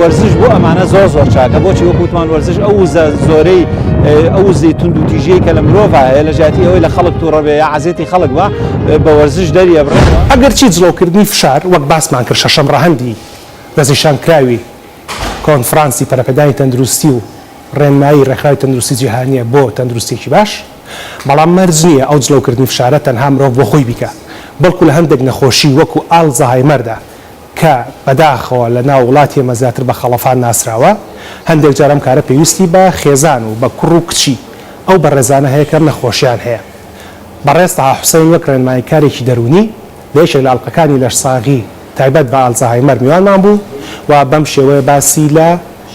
وەرزش بۆ ئەمانە زۆر زۆر چاکە بۆچی وەکوتمان وەرزش ئەو وزە زۆرەی ئەو زی تونند و تیژەیە کە لە مرۆڤ هەیە لە ژاتی ئەوەی لە خەڵک تووڕەبێ یا عزیێتی خەڵک بە بە وەرزش دەریە بڕ ئەگەر چی جڵەوکردنی فشار وەک باسمان کرد شەشەم ڕەهەندی دەستنیشانکراوی کۆنفرانسی پەرەپێدانی تەندروستی و ڕێنمایی ڕێکخراوی تەندروستی جیهانیە بۆ تەندروستێکی باش بەڵام مەرج نییە ئەو جڵەوکردنی فشارە تەنها مرۆڤ بۆ خۆی بیکا بەڵکو لە هەندێک نەخۆشی وەکو ئالزەهایمەردا کە بەداخەوە لە ناو وڵاتی ئێمە زیاتر بە خەڵەفان ناسراوە، هەندێک جار ئەم کارە پێویستی بە خێزان و بە کوڕ و کچی ئەو بەڕێزانە هەیە کە ئەم نەخۆشیان هەیە. بەڕێز تەها حوسەین وەک ڕێنماییکارێکی دەروونی لە یەکێک لە ئەڵقەکانی لەشساغی تایبەت بە ئالزەهایمەر میوانمان بوو و بەم شێوەیە باسی لە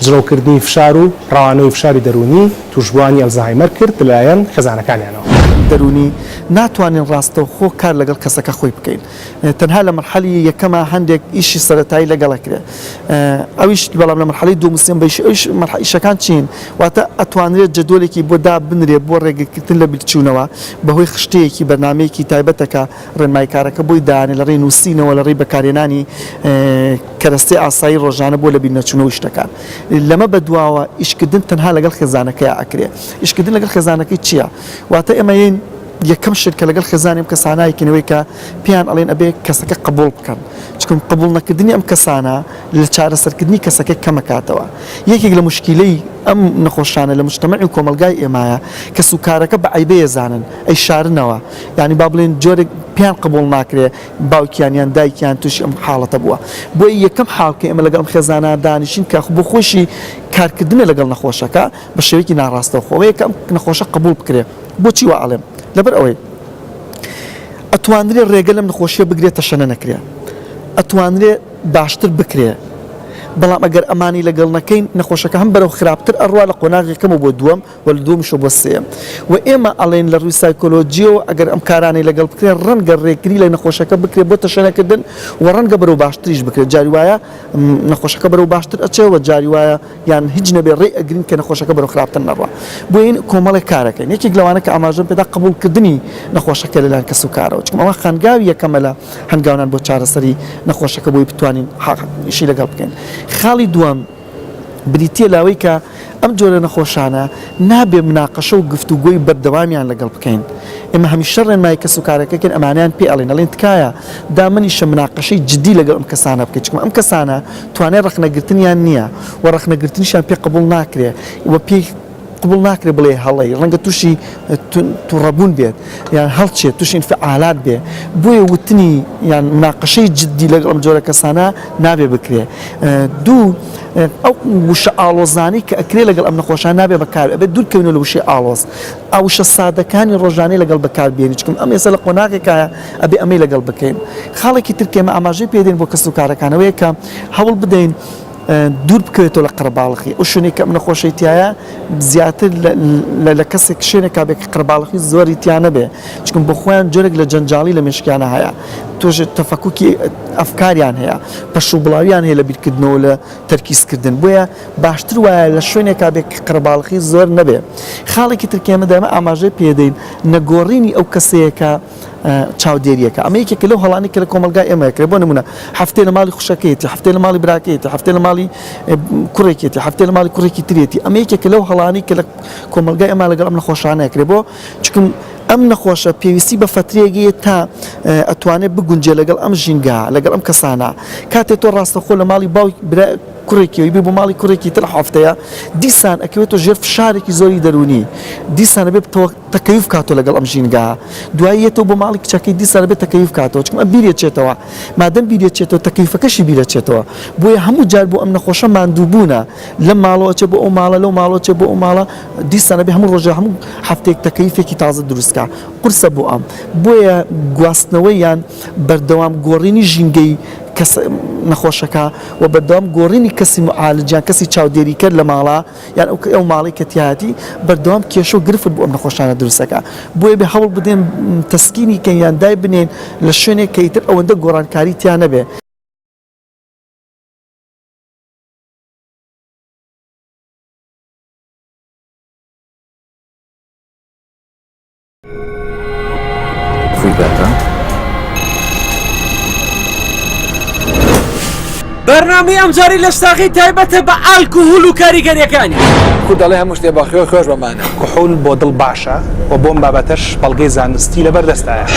جڕەوکردنی فشار و ڕەوانەوەی فشاری دەروونی تووشبووانی ئەلزەهایمەر کرد لەلایەن خێزانەکانیانەوە. دەروونی، ناتوانین ڕاستەوخۆ کار لەگەڵ کەسەکە خۆی بکەین، تەنها لە مەرحەلی یەکەما هەندێک ئیشی سەرەتایی لەگەڵ ئەکرێ ئەویش بەڵام لە مەرحەلەی دووەم و سێم بە ئیشی ئەویش مەرحە ئیشەکان چین واتە ئەتوانرێت جەدۆلێکی بۆ دابنرێ بۆ ڕێگرکردن لە بیرچوونەوە بەهۆی خشتەیەکی بەرنامەیەکی تایبەتە کە ڕێنماییکارەکە بۆی دانێ لە ڕێی نووسینەوە لە ڕێی بەکارهێنانی کەرەستەی ئاسایی ڕۆژانە بۆ لە بیرنەچوونەوە و شتەکان لەمە بەدواوە ئیشکردن تەنها لەگەڵ خێزانەکەیا ئەکرێ ئیشکردن لەگەڵ خێزانەکەی چییە واتە ئێمە یین یەکەم شت کە لەگەڵ خێزانی ئەم کەسانە یەکین ئەوەی کە پێیان ئەڵێن ئەبێ کەسەکە قبوڵ بکەن چکم قبوڵ نەکردنی ئەم کەسانە لە چارەسەرکردنی کەسەکە کەمەکاتەوە یەکێک لە مشکیلەی ئەم نەخۆشانە لە مشتەمەعی و کۆمەلگای ئێمایە کەس و کارەکە بە عیبەیە زانن ئەی شارنەوە یعنی با بڵێن جۆرێک پیان قبول ناکرێ باوکیان یان دایکیان تووشی ئەم حاڵەتە بووە بۆی یەکەم حاڵکە ئمە لەگەڵم خێزانە دانیشین کە بۆ خۆشی کارکردنە لەگەڵ نەخۆشەکە بە شێوەیەکی ناڕاستەوخۆ ئەوەیە کە ئەم نەخۆشە قبوڵ بکرێت بۆچی وا ئەڵێم لەبەر ئەوەی ئەتوانرێ ڕێگە لەم نەخۆشیە بگرێت تەشەنە نەکرێت ئەتوانرێ باشتر بکرێت بەڵام ئەگەر ئەمانی لەگەڵ نەکەین نەخۆشەکە هەم بەرەو خراپتر ئەڕوا لە قۆناغێکەمە بۆ دووەم و لە دووەمشە بۆ سێم و ئێمە ئەڵێن لە ڕووی سایکۆلۆجیەوە ئەگەر ئەم کارانەی لەگەڵ بکرێن ڕەنگە ڕێکری لە نەخۆشەکە بکرێت بۆ تەشەنەکردن و ڕەنگە بەرەو باشتریش بکرێت جاری وایە نەخۆشەکە بەرەو باشتر ئەچێ و جاری وایە یان هیچ نەبێ ڕێ ئەگرین کە نەخۆشەکە بەرەو خراپتر نەڕوا بۆیە کۆمەڵێک کارەکەین یەکێک لەوانە کە ئاماژەم پێدا قبوڵ کردنی نەخۆشەکە لەلایەن کەس و کارەوە چونکە ئەوە خانگاوی یەکەمە لە هەنگاونان بۆ چارەسەری نەخۆشەکە بۆی بتوانین حەقیشی لەگەڵ بکەین خاڵی دووەم بریتە لەوەی کە ئەم جۆرە نەخۆشانە نابێ مناقەشە و گفتوگۆی بەردەوامیان لەگەڵ بکەین ئێمە هەمیشە ڕێنمای کەس و کارەکەکەن ئەمانیان پێڵێن ئەڵێن تکایە دامنیشە مناقەشەی جددی لەگەڵ ئەم کەسانە بکەیت چکم ئەم کەسانە توانای ڕەخنەگرتنیان نییە و ڕەخنەگرتنیشیان پێ قبوڵ ناکرێ و پێی قبوڵ ناکرێ بڵێ هەڵەی، ڕەنگە تووشی توڕەبوون بێت یان هەڵچێت، تووشی ئینفعالات بێ، بۆیە وتنی یان مناقەشەی جددی لەگەڵ ئەم جۆرە کەسانە نابێ بکرێ. دوو، ئەو وشە ئاڵۆزانەی کە ئەکرێ لەگەڵ ئەم نەخۆشانە نابێ بەکار بێ، ئەبێ دوور کەوینەوە لە وشەی ئاڵۆز، ئاوشە سادەکانی ڕۆژانەی لەگەڵ بەکار بێنین، چونکە ئەم ئێستا لە قۆناغێکایە، ئەبێ ئەمەی لەگەڵ بکەین. خاڵێکی تر کە ئێمە ئاماژەی پێ دێن بۆ کەسوکارەکان ئەوەیە کە هەوڵ بدەین دوور بکەوێتەوە لە قەرەباڵخی، ئەو شوێنەی کە ئەم نەخۆشەی تیایە زیاتر لە کەسێک شوێنێکا بێ کە قەرەباڵخی زۆری تیا نەبێ، چونکە بۆ خۆیان جۆرێک لە جەنجاڵی لە مێشکیانا هەیە، توش تەفەکوکی ئەفکاریان هەیە، پەشوبڵاوییان هەیە لە بیرکردنەوە و لە تەرکیزکردن، بۆیە باشتر وایە لە شوێنێکا بێ کە قەرەباڵخی زۆر نەبێ. خاڵێکی تر کە ئێمە دایمە ئاماژەی پێ دێین نەگۆڕینی ئەو کەسەیە کە. چاودێرییەکە. ئەمە یەکێکە لەو هەڵانەی کە لە کۆمەڵگای ئێمە ئەکرێت، بۆ نموونە هەفتەی لە ماڵی خوشکەکەیەتی، هەفتەی لە ماڵی براکەیەتی، هەفتەی لە ماڵی کوڕێکێتی، هەفتەی لە ماڵی کوڕێکی ترێتی. ئەمە یەکێکە لەو هەڵانەی کە لە کۆمەڵگای ئێمە لەگەڵ ئەم نەخۆشانە ئەکرێت. بۆ؟ چونکە ئەم نەخۆشە پێویستی بە فترەیەک هەیە تا ئەتوانێت بگونجێت لەگەڵ ئەم ژینگە، لەگەڵ ئەم کەسانە. کاتێ تۆ ڕاستەوخۆ لە ماڵی باوکی برا کوڕێکیەوەی بێ بۆ ماڵی کوڕێکی تر هەفتەیە، دیسان ئەکەوێتەوە ژێر فشارێکی زۆری دەروونی. دیسان ئەبێ بتەوە. تەکەیوف کاتەوە لەگەڵ ئەم ژینگەە دوای یەتەوە بۆ ماڵی کچەکەی دیسان دەبێت تەکەیوف کاتەوە چکمە بیرێ چێتەوە مادەم بیرێ چێتەوە تەکەیفەکەشی بیرە چێتەوە بۆیە هەموو جار بۆ ئەم نەخۆشە ماندووبوونە لە ماڵەوە چێ بۆ ئەو ماڵە لەو ماڵەوە چێ بۆ ئەو ماڵە دیسانە بێ هەموو ڕۆژە هەموو هەفتێک تەکەیفێکی تازە دروستکە قرسە بۆ ئەم بۆیە گواستنەوەی یان بەردەوام گۆڕینی ژینگەی کەس نەخۆشەکە و بەردەوام گۆڕینی کەسی معالجیان کەسی چاودێریکەر لە ماڵە یان ئەو کەی ئەو ماڵەی کە تیایەتی بەردەوام کێشە و گرفت بۆ ئەم نەخۆشانە دروست دەکا بۆیە بێ هەوڵ بدەین تەسکینی کەین یان دای بنێین لە شوێنێک کە ئیتر ئەوەندە گۆڕانکاری تیا نەبێ. بەرنامەی ئەمجاری لە شتاغی تایبەتە بە ئالک و هول و کاریگەریەکانی کو دەڵێ هەموو شتێ بەخێ خۆش بەمانە کوحول بۆ دڵ باشە و بۆم بابەتەش بەڵگەی زانستی لەبەردەستایە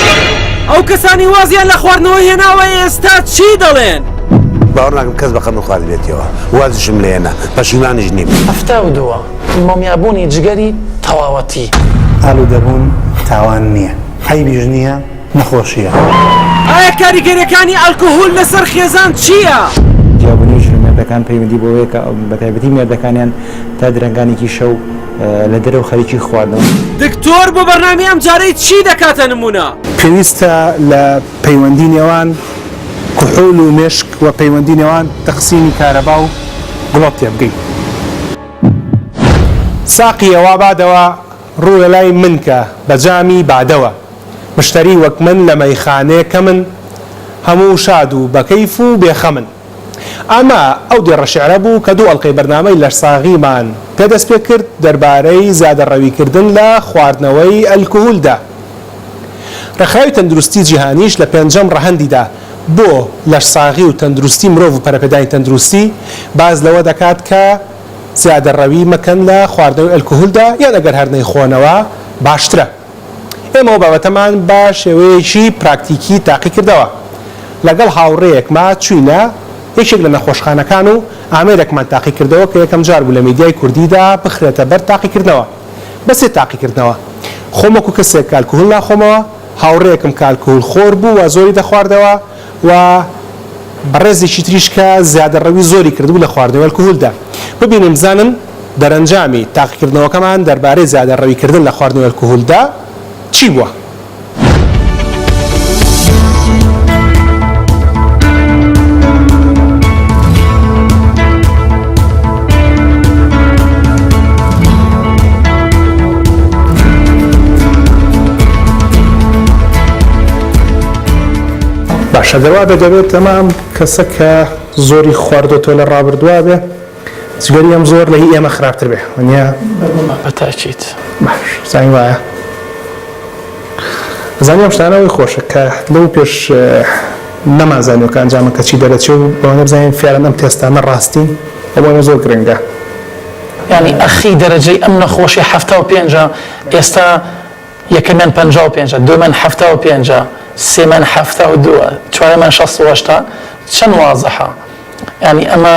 ئەو کەسانی وازیان لە خواردنەوە هێناوە ئێستا چی دەڵێن؟ باوەڕ ناکەم کەس بە قەمە خواردبێتیەوە وازشم لێنە پەشیمانیش نیم هەفتا و دووە مومیابوونی جگەری تەواوەتی. ئالوودەبوون تاوان نییە، عەیبیش نییە، نەخۆشییە. ئایا کاریگەریەکانی ئەلکهول لەسەر خێزان چییە؟ جیابونی ژن و مێردەکان پەیوەندی بەوەیە کە بەتایبەتی مێردەکانیان تا درەنگانێکی شەو لە دەرەوە خەریکی خواردنەوەن. دکتۆر بۆ بەرنامەی ئەمجارەی چی دەکاتە نمونە؟ پێویستە لە پەیوەندی نێوان کحول و مێشک و پەیوەندی نێوان تەقسیمی کارەبا و گڵۆپ تێبگەین. ساقیە وا بادەوە ڕووە لای من کە بە جامی بادەوە مشتەری وەک من لە مەیخانێ کەمن هەموو شاد و بە کەیف و بێ خەمن ئەمە ئەو دێڕە شیعرە بوو کە دوو ئەڵقەی بەرنامەی لەشساغیمان پێ دەست پێ کرد دەربارەی زیادەڕەوی کردن لە خواردنەوەی ئەلکهولدا ڕێکخراوی تەندروستی جیهانیش لە پێنجەم ڕەهەندیدا بۆ لەشساغی و تەندروستی مرۆڤ و پەرەپێدانی تەندروستی، باس لەوە دەکات کە زیادەڕەوی مەکەن لە خواردنەوەی ئەلکهولدا یان ئەگەر هەر نەیخۆنەوە باشترە. ئێمە ئەو بابەتەمان بە شێوەیەکی پراکتیکی تاقیکردەوە. لەگەڵ هاوڕێیەکما چووینە یەکێک لە نەخۆشخانەکان و ئامێرێکمان تاقیکردەوە کە یەکەمجار بوو لە میدیای کوردیدا بخرێتە بەر تاقیکردنەوە. بە سێ تاقیکردنەوە خۆم وەکو کەسێک کە ئەلکهول ناخۆمەوە، هاوڕێیەکم کە ئەلکهول خۆر بوو و زۆری دەخواردەوە و بەڕێزێکی تریش کە زیادەڕەوی زۆری کردبوو لە خواردنەوەی ئەلکهولدا. ببینن بزانن دەرەنجامی تاقیکردنەوەکەمان دەربارەی زیادەڕەوی کردن لە خواردنەوەی ئەلکهولدا چی بووە؟ باشە دەوا بە دەبێت تەمام کەسە کە زۆری خواردۆتۆ لە ڕابردووا بێ جگەری ئەم زۆر لە هی ئێمە خراپتر بێ نیە بەتاچیت زانی وایە زانیم شتانەوەی خۆشە کە لەو پێش نەمانزانیوە کە ئەنجامە کەچی دەرەچێ و ئەوەنە بزانین فیعلەن ئەم تێستانە ڕاستین و بۆ ئێمە زۆر گرنگە. یانی ئەخی دەرەجەی ئەم نەخۆشیە حەفتا و پێنجە ئێستا یەکەمیان پەنجا و پێنجە دووەمیان حەفتا و پێنجە سێمیان حەفتا و دووە چوارەمیان شەست و هەشتا چەند وازحە یانی ئەمە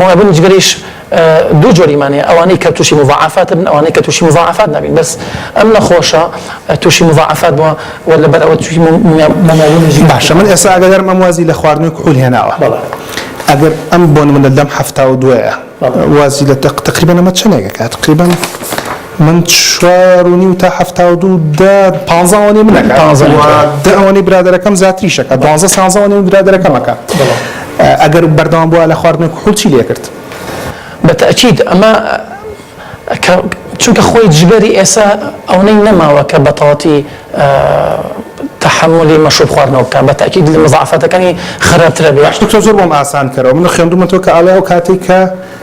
موعبن جگەرەیش دوو جۆریمان هەیە ئەوانەی کە توشی موزاعەفاتبن ئەوانەی کە توشی موزاعەفات نابین بەس ئەم نەخۆشە توشی موزاعەفات بوە وە لەبەر ئەوە توشی مومەوبن جگەرەیش باشە من ئێستا ئاگادارم ئەم وازی لە خواردنەوەی کحول هێناوە بەڵێ ئەگەر ئەم بۆ نمونە لەم حەفتا و دوەیە وازی لە تەق تەقریبەن ئەمە چەنێگەکە تەقریبەن. من چوار و نیو تا حەفتا و دوو دە پانزە ئەوەنەی من ئەکات پانزە و دە ئەوەنەی برادەرەکەم زیاتریش ئەکات دوانزە سانزە ئەوەنەی من برادەرەکەم ئەکات ئەگەر بەردەوام بوایە لە خواردنی کحول چی لێکرد؟ بە تەئکید ئەمە کە چونکە خۆی جگەری ئێسا ئەونەی نەماوە کە بەتاڵەتی تەحەمولی مەشروب خواردنەوە بکا بە تەئکید لە مزاعەفاتەکانی خەراپترە بێ. باش دکتۆر زۆر بۆم ئاسان کەرەوە من خوێندومەتەوە کە ئەڵێ ئەو کاتەی کە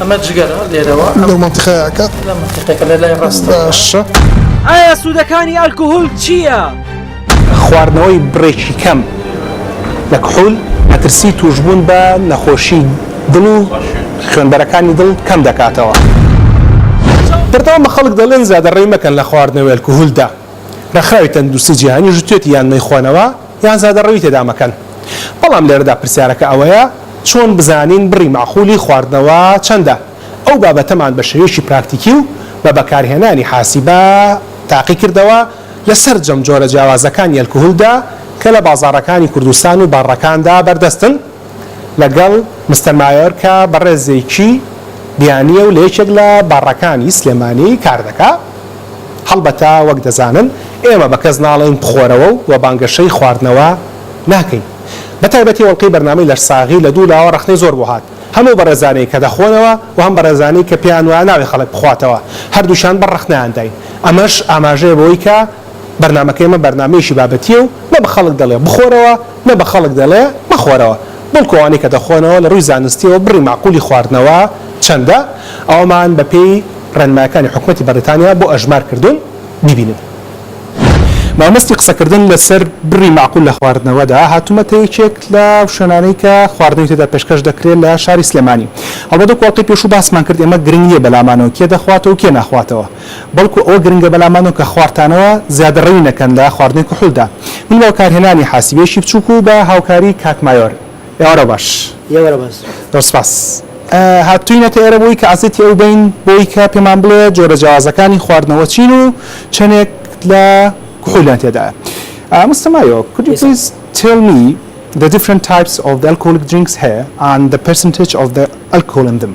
ئەمە جگەرە لێرەوە لەو منتیقەیەکە لە منتیقەکە لە لای ڕاست باشە ئایا سوودەکانی ئەلکوهول چییە؟ خواردنەوەی بڕێکی کەم لە کحول مەترسی تووشبوون بە نەخۆشی دڵ و خوێنبەرەکانی دڵ کەم دەکاتەوە. بەردەوام بە خەڵک دەڵێن زیادەڕەوی مەکەن لە خواردنەوەی ئەلکوهولدا. ڕێکخراوی تەندروستی جیهانیش وتوێتی یان مەیخۆنەوە، یان زادە ڕەوی تێدا مەکەن. بەڵام لێرەدا پرسیارەکە ئەوەیە چۆن بزانین بڕی مەعقولی خواردنەوە چەندە؟ ئەو بابەتەمان بە شێوەیەکی پراکتیکی و بە بەکارهێنانی حاسیبە تاقی کردەوە لە سەرجەم جۆرە جیاوازەکانی ئەلکهولدا کە لە بازاڕەکانی کوردستان و باڕەکاندا بەردەستن، لەگەڵ مستەر مایۆرکا بەڕێزێکی بیانییە و لە یەکێک لە باڕەکانی سلێمانی کار دەکا. هەڵبەتە وەک دەزانن ئێمە بە کەس ناڵێین بخۆرەوە و وە بانگەشەی خواردنەوە ناکەین. بە تایبەتی ئەڵقەی بەرنامەی لەشساغی لە دوو لاوە ڕەخنەی زۆر بۆ هات. هەم ئەو بەڕێزانەی کە دەخۆنەوە و هەم بەڕێزانەی کە پێیان وایە نابێ خەڵک بخواتەوە، هەردووکیان بەر ڕەخنەیان داین. ئەمەش ئاماژەیە بەوەی کە. بەرنامەکەی ئێمە بەرنامەیەکی بابەتییە و نە بە خەڵک دەڵێ بخۆرەوە، نە بە خەڵک دەڵێ مەخۆرەوە، بەڵکو ئەوانەی کە دەخۆنەوە لە ڕووی زانستییەوە بڕی مەعقولی خواردنەوە چەندە، ئەوەمان بە پێی ڕێنمایەکانی حکومەتی بەڕیتانیا بۆ ئەژمار کردوون، بیبینن. مامەستی قسەکردن لە سەر بڕی مەعقول لە خواردنەوەدا، هاتوومەتە یەکێک لە شوێنانەی کە خواردنەوەی تێدا پێشکەش دەکرێ لە شاری سلێمانی. هەڵبەت وەکو ئەڵقەی پێشوو باسمان کرد ئێمە گرنگ نییە بە لامانەوە کێ دەخواتەوە و کێ ناخواتەوە، بەڵکو ئەوە گرنگە بەلامانەوە کە خوارتانەوە زیادەڕەوی نەکەن لە خواردنی کحولدا. من بە بەکارهێنانی حاسیبێکی بچوک و بە هاوکاری کاک مایۆر. ئێوارە باش. ئێوارە باش. زۆر سپاس. هاتووینەتە ئێرە بۆی کە عەزێتی ئەو بەین بۆی کە پێمان بڵێ جۆرە جیاوازەکانی خواردنەوە چین و چەنێک لە کحولیان تێدایە. مستەر مایۆ، Could you please tell me the different types of the alcoholic drinks here and the percentage of the alcohol in them.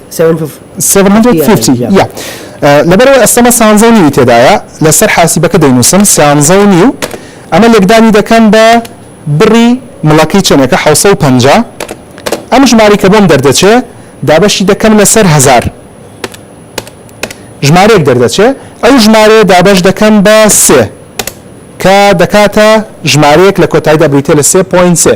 لەبەرئەوەی ئەستەمە سانزە و نیوی تێدایە لەسەر حاسیبەکە دەینوسم سیانزە و نیو ئەمە لێکدانی دەکەم بە بڕی مڵەکەی چەنێکە حەوت سەد و پەنجا ئەم ژمارەی کە بۆم دەردەچێ دابەشی دەکەم لەسەر هەزار ژمارەیەک دەردەچێ ئەو ژمارەیە دابەش دەکەم بە سێ کە دەکاتە ژمارەیەک لە کۆتایدا بریتە لە سێ پۆین سێ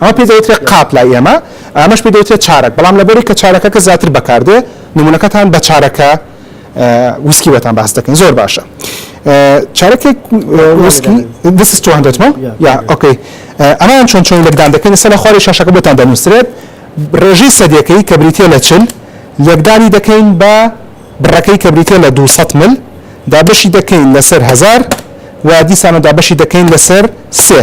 ئەمە پێی دەوترێت قاپ لای ئێمە، ئەمەش پێی دەوترێت چارەک، بەڵام لەبەرئەوەی کە چارەکەکە زیاتر بەکار دێت، نموونەکەتان بە چارەکە ویسکی بۆتان باس دەکەین. زۆر باشە. چارەکێک ویسکی، This is 200 ml. Yeah. Okay. ئەمەیان چۆن چۆنی لێکدان دەکەین، لەسەر لای خوارەوەی شاشەکە بۆتان دەنووسرێت. ڕێژەی سەدییەکەی کە بریتییە لە چل، لێکدانی دەکەین بە بڕەکەی کە بریتییە لە دوو سەد مل، دابەشی دەکەین لەسەر هەزار و دیسانەوە دابەشی دەکەین لەسەر سێ.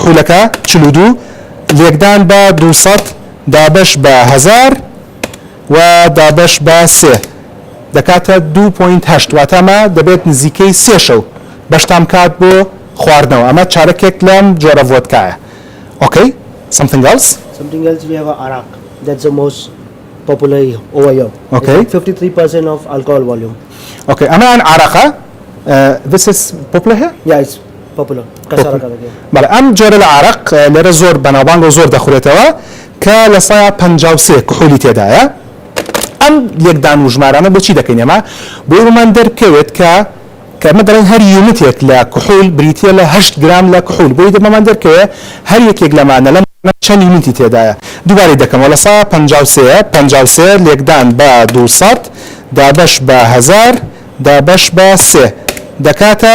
خولەکە، چل و دوو، لێکدان بە دوو سەد دابەش بە هەزار و دابەش بە سێ دەکاتە دوو پۆینت هەشت، واتە ئەمە دەبێت نزیکەی سێ شەو بەشتان بکات بۆ خواردنەوە، ئەمە چارەکێک لەم جۆرە ڤۆدکایە. ئۆکەی. سەمثینگ ئێلس؟ Something else we have Arak that's the most popular over here it's ئۆکەی. like 53 percent of alcohol volume. ئۆکەی ئەمەیان عارەقە this is popular here؟ yeah it's بەڵێ ئەم جۆرە لە عارەق لێرە زۆر بەناوبانگەو زۆر دەخورێتەوە کە لە سەیا پەنجا و سێ کحولی تێدایە ئەم لێکدان و ژمارانە بۆچی دەکەین ئێمە بۆی وەمان دەرکەوێت کە کە ئەمە دەڵێن هەر یونتێک لە کحول بریتیە لە هەشت گرام لە کحول بۆی دەمەمان دەرکەوێ هەر یەکێک لەمانە لەم چەند یونتی تێدایە دووبارەی دەکەمەوە لە سەیا پەنجا و سێ پەنجا و سێ لێکدان بە دوو سەد دابەش بە هەزار دابەش بە سێ دەکاتە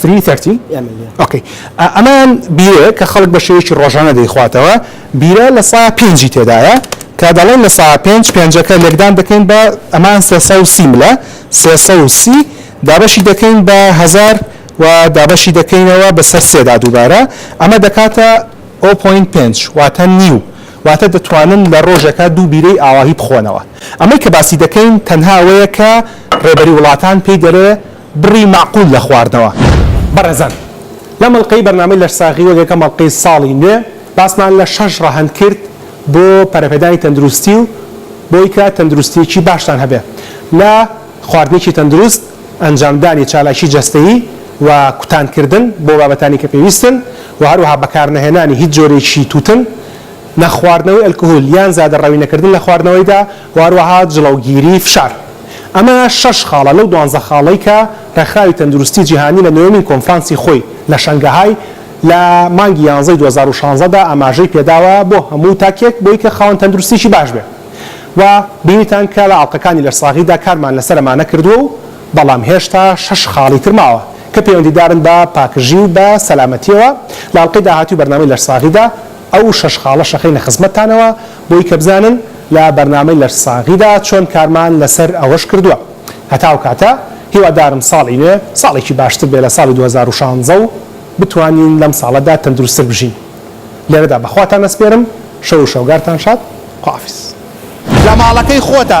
فری تەرتی ئۆکەی ئەمان بیرەیە کە خەڵک بە شێوەیەکی ڕۆژانە دەیخواتەوە بیرە لە سا پێنجی تێدایە کە دەڵێن لە سا پێنج پێنجەکە لێکدان دەکەین بە ئەمان سێ سەد و سی ملە سێ سەد و سی دابەشی دەکەین بە هەزار و دابەشی دەکەینەوە بەسەر سێدا دووبارە ئەمە دەکاتە ئەو پۆین پێنج واتە نیو واتە دەتوانن لە ڕۆژەکە دوو بیرەی ئاواهی بخۆنەوە ئەمەی کە باسی دەکەین تەنها ئەوەیە کە ڕێبەری وڵاتان پێی دەرێ بڕی مەعقول لە خواردنەوە. بەڕێزان لەم ئەڵقەی بەرنامەی لەشساغی وەک یەکەم ئەڵقەی ساڵی نوێ باسمان لە شەش ڕەهەند کرد بۆ پەرەپێدانی تەندروستی و بۆی کە تەندروستیەکی باشتان هەبێ لە خواردنێکی تەندروست ئەنجامدانی چالاکی جەستەیی و کوتان کردن بۆ بابەتانی کە پێویستن و هەروەها بەکارنەهێنانی هیچ جۆرێکی توتن نەخواردنەوەی ئەلکهول یان زیادە ڕەوی نەکردن لە خواردنەوەیدا و هەروەها جڵەوگیری فشار. ئەمە شەش خاڵە لەو دوانزە خاڵەی کە ڕێکخراوی تەندروستی جیهانی لە نۆیەمین کۆنفرانسی خۆی لە شەنگەهای لە مانگی یانزەی دوو هەزار و شانزە دا ئاماژەی پێداوە بۆ هەموو تاکێک بۆی کە خاوەن تەندروستییەکی باش بێ و بینیتان کە لە ئاڵقەکانی لەشساغیدا کارمان لەسەر ئەمانە کردووە و بەڵام هێشتا شەش خاڵی تر ماوە کە پەیوەندیدارن بە پاکژی و بە سەلامەتییەوە لە ئاڵقەی داهاتووی بەرنامەی لەشساغیدا ئەو شەش خاڵە شەخەینە خزمەتتانەوە بۆی کە بزانن لە بەرنامەی لەشساغیدا چۆن کارمان لەسەر ئەوەش کردووە. هەتا ئەو کاتە هیوادارم ساڵی نوێ ساڵێکی باشتر بێ لە ساڵی دوو هەزار و شانزە و بتوانین لەم ساڵەدا تەندروستتر بژین. لێرەدا بە خواتان ئەسپێرم. شەو و شەوگارتان شاد. خوائافیز. لە ماڵەکەی خۆتە.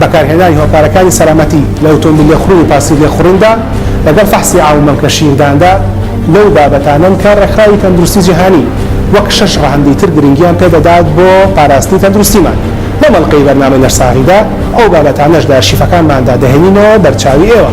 بەکارهێنانی هۆکارەکانی سەلامەتی لە ئۆتۆمبیل لێخوڕین و پاسی لێخوڕیندا لەگەڵ فەحسی ئاو و مەمکە شیرداندا لەو بابەتانەن کە ڕێکخراوی تەندروستی جیهانی وەک شەش ڕەهەندی تر گرنگیان پێ دەدات بۆ پاراستنی تەندروستیمان. لەم ئەڵقەی بەرنامەی لەشساغیدا ئەو بابەتانەش لە ئەرشیفەکانماندا دەهێنینەوە بەرچاوی ئێوە.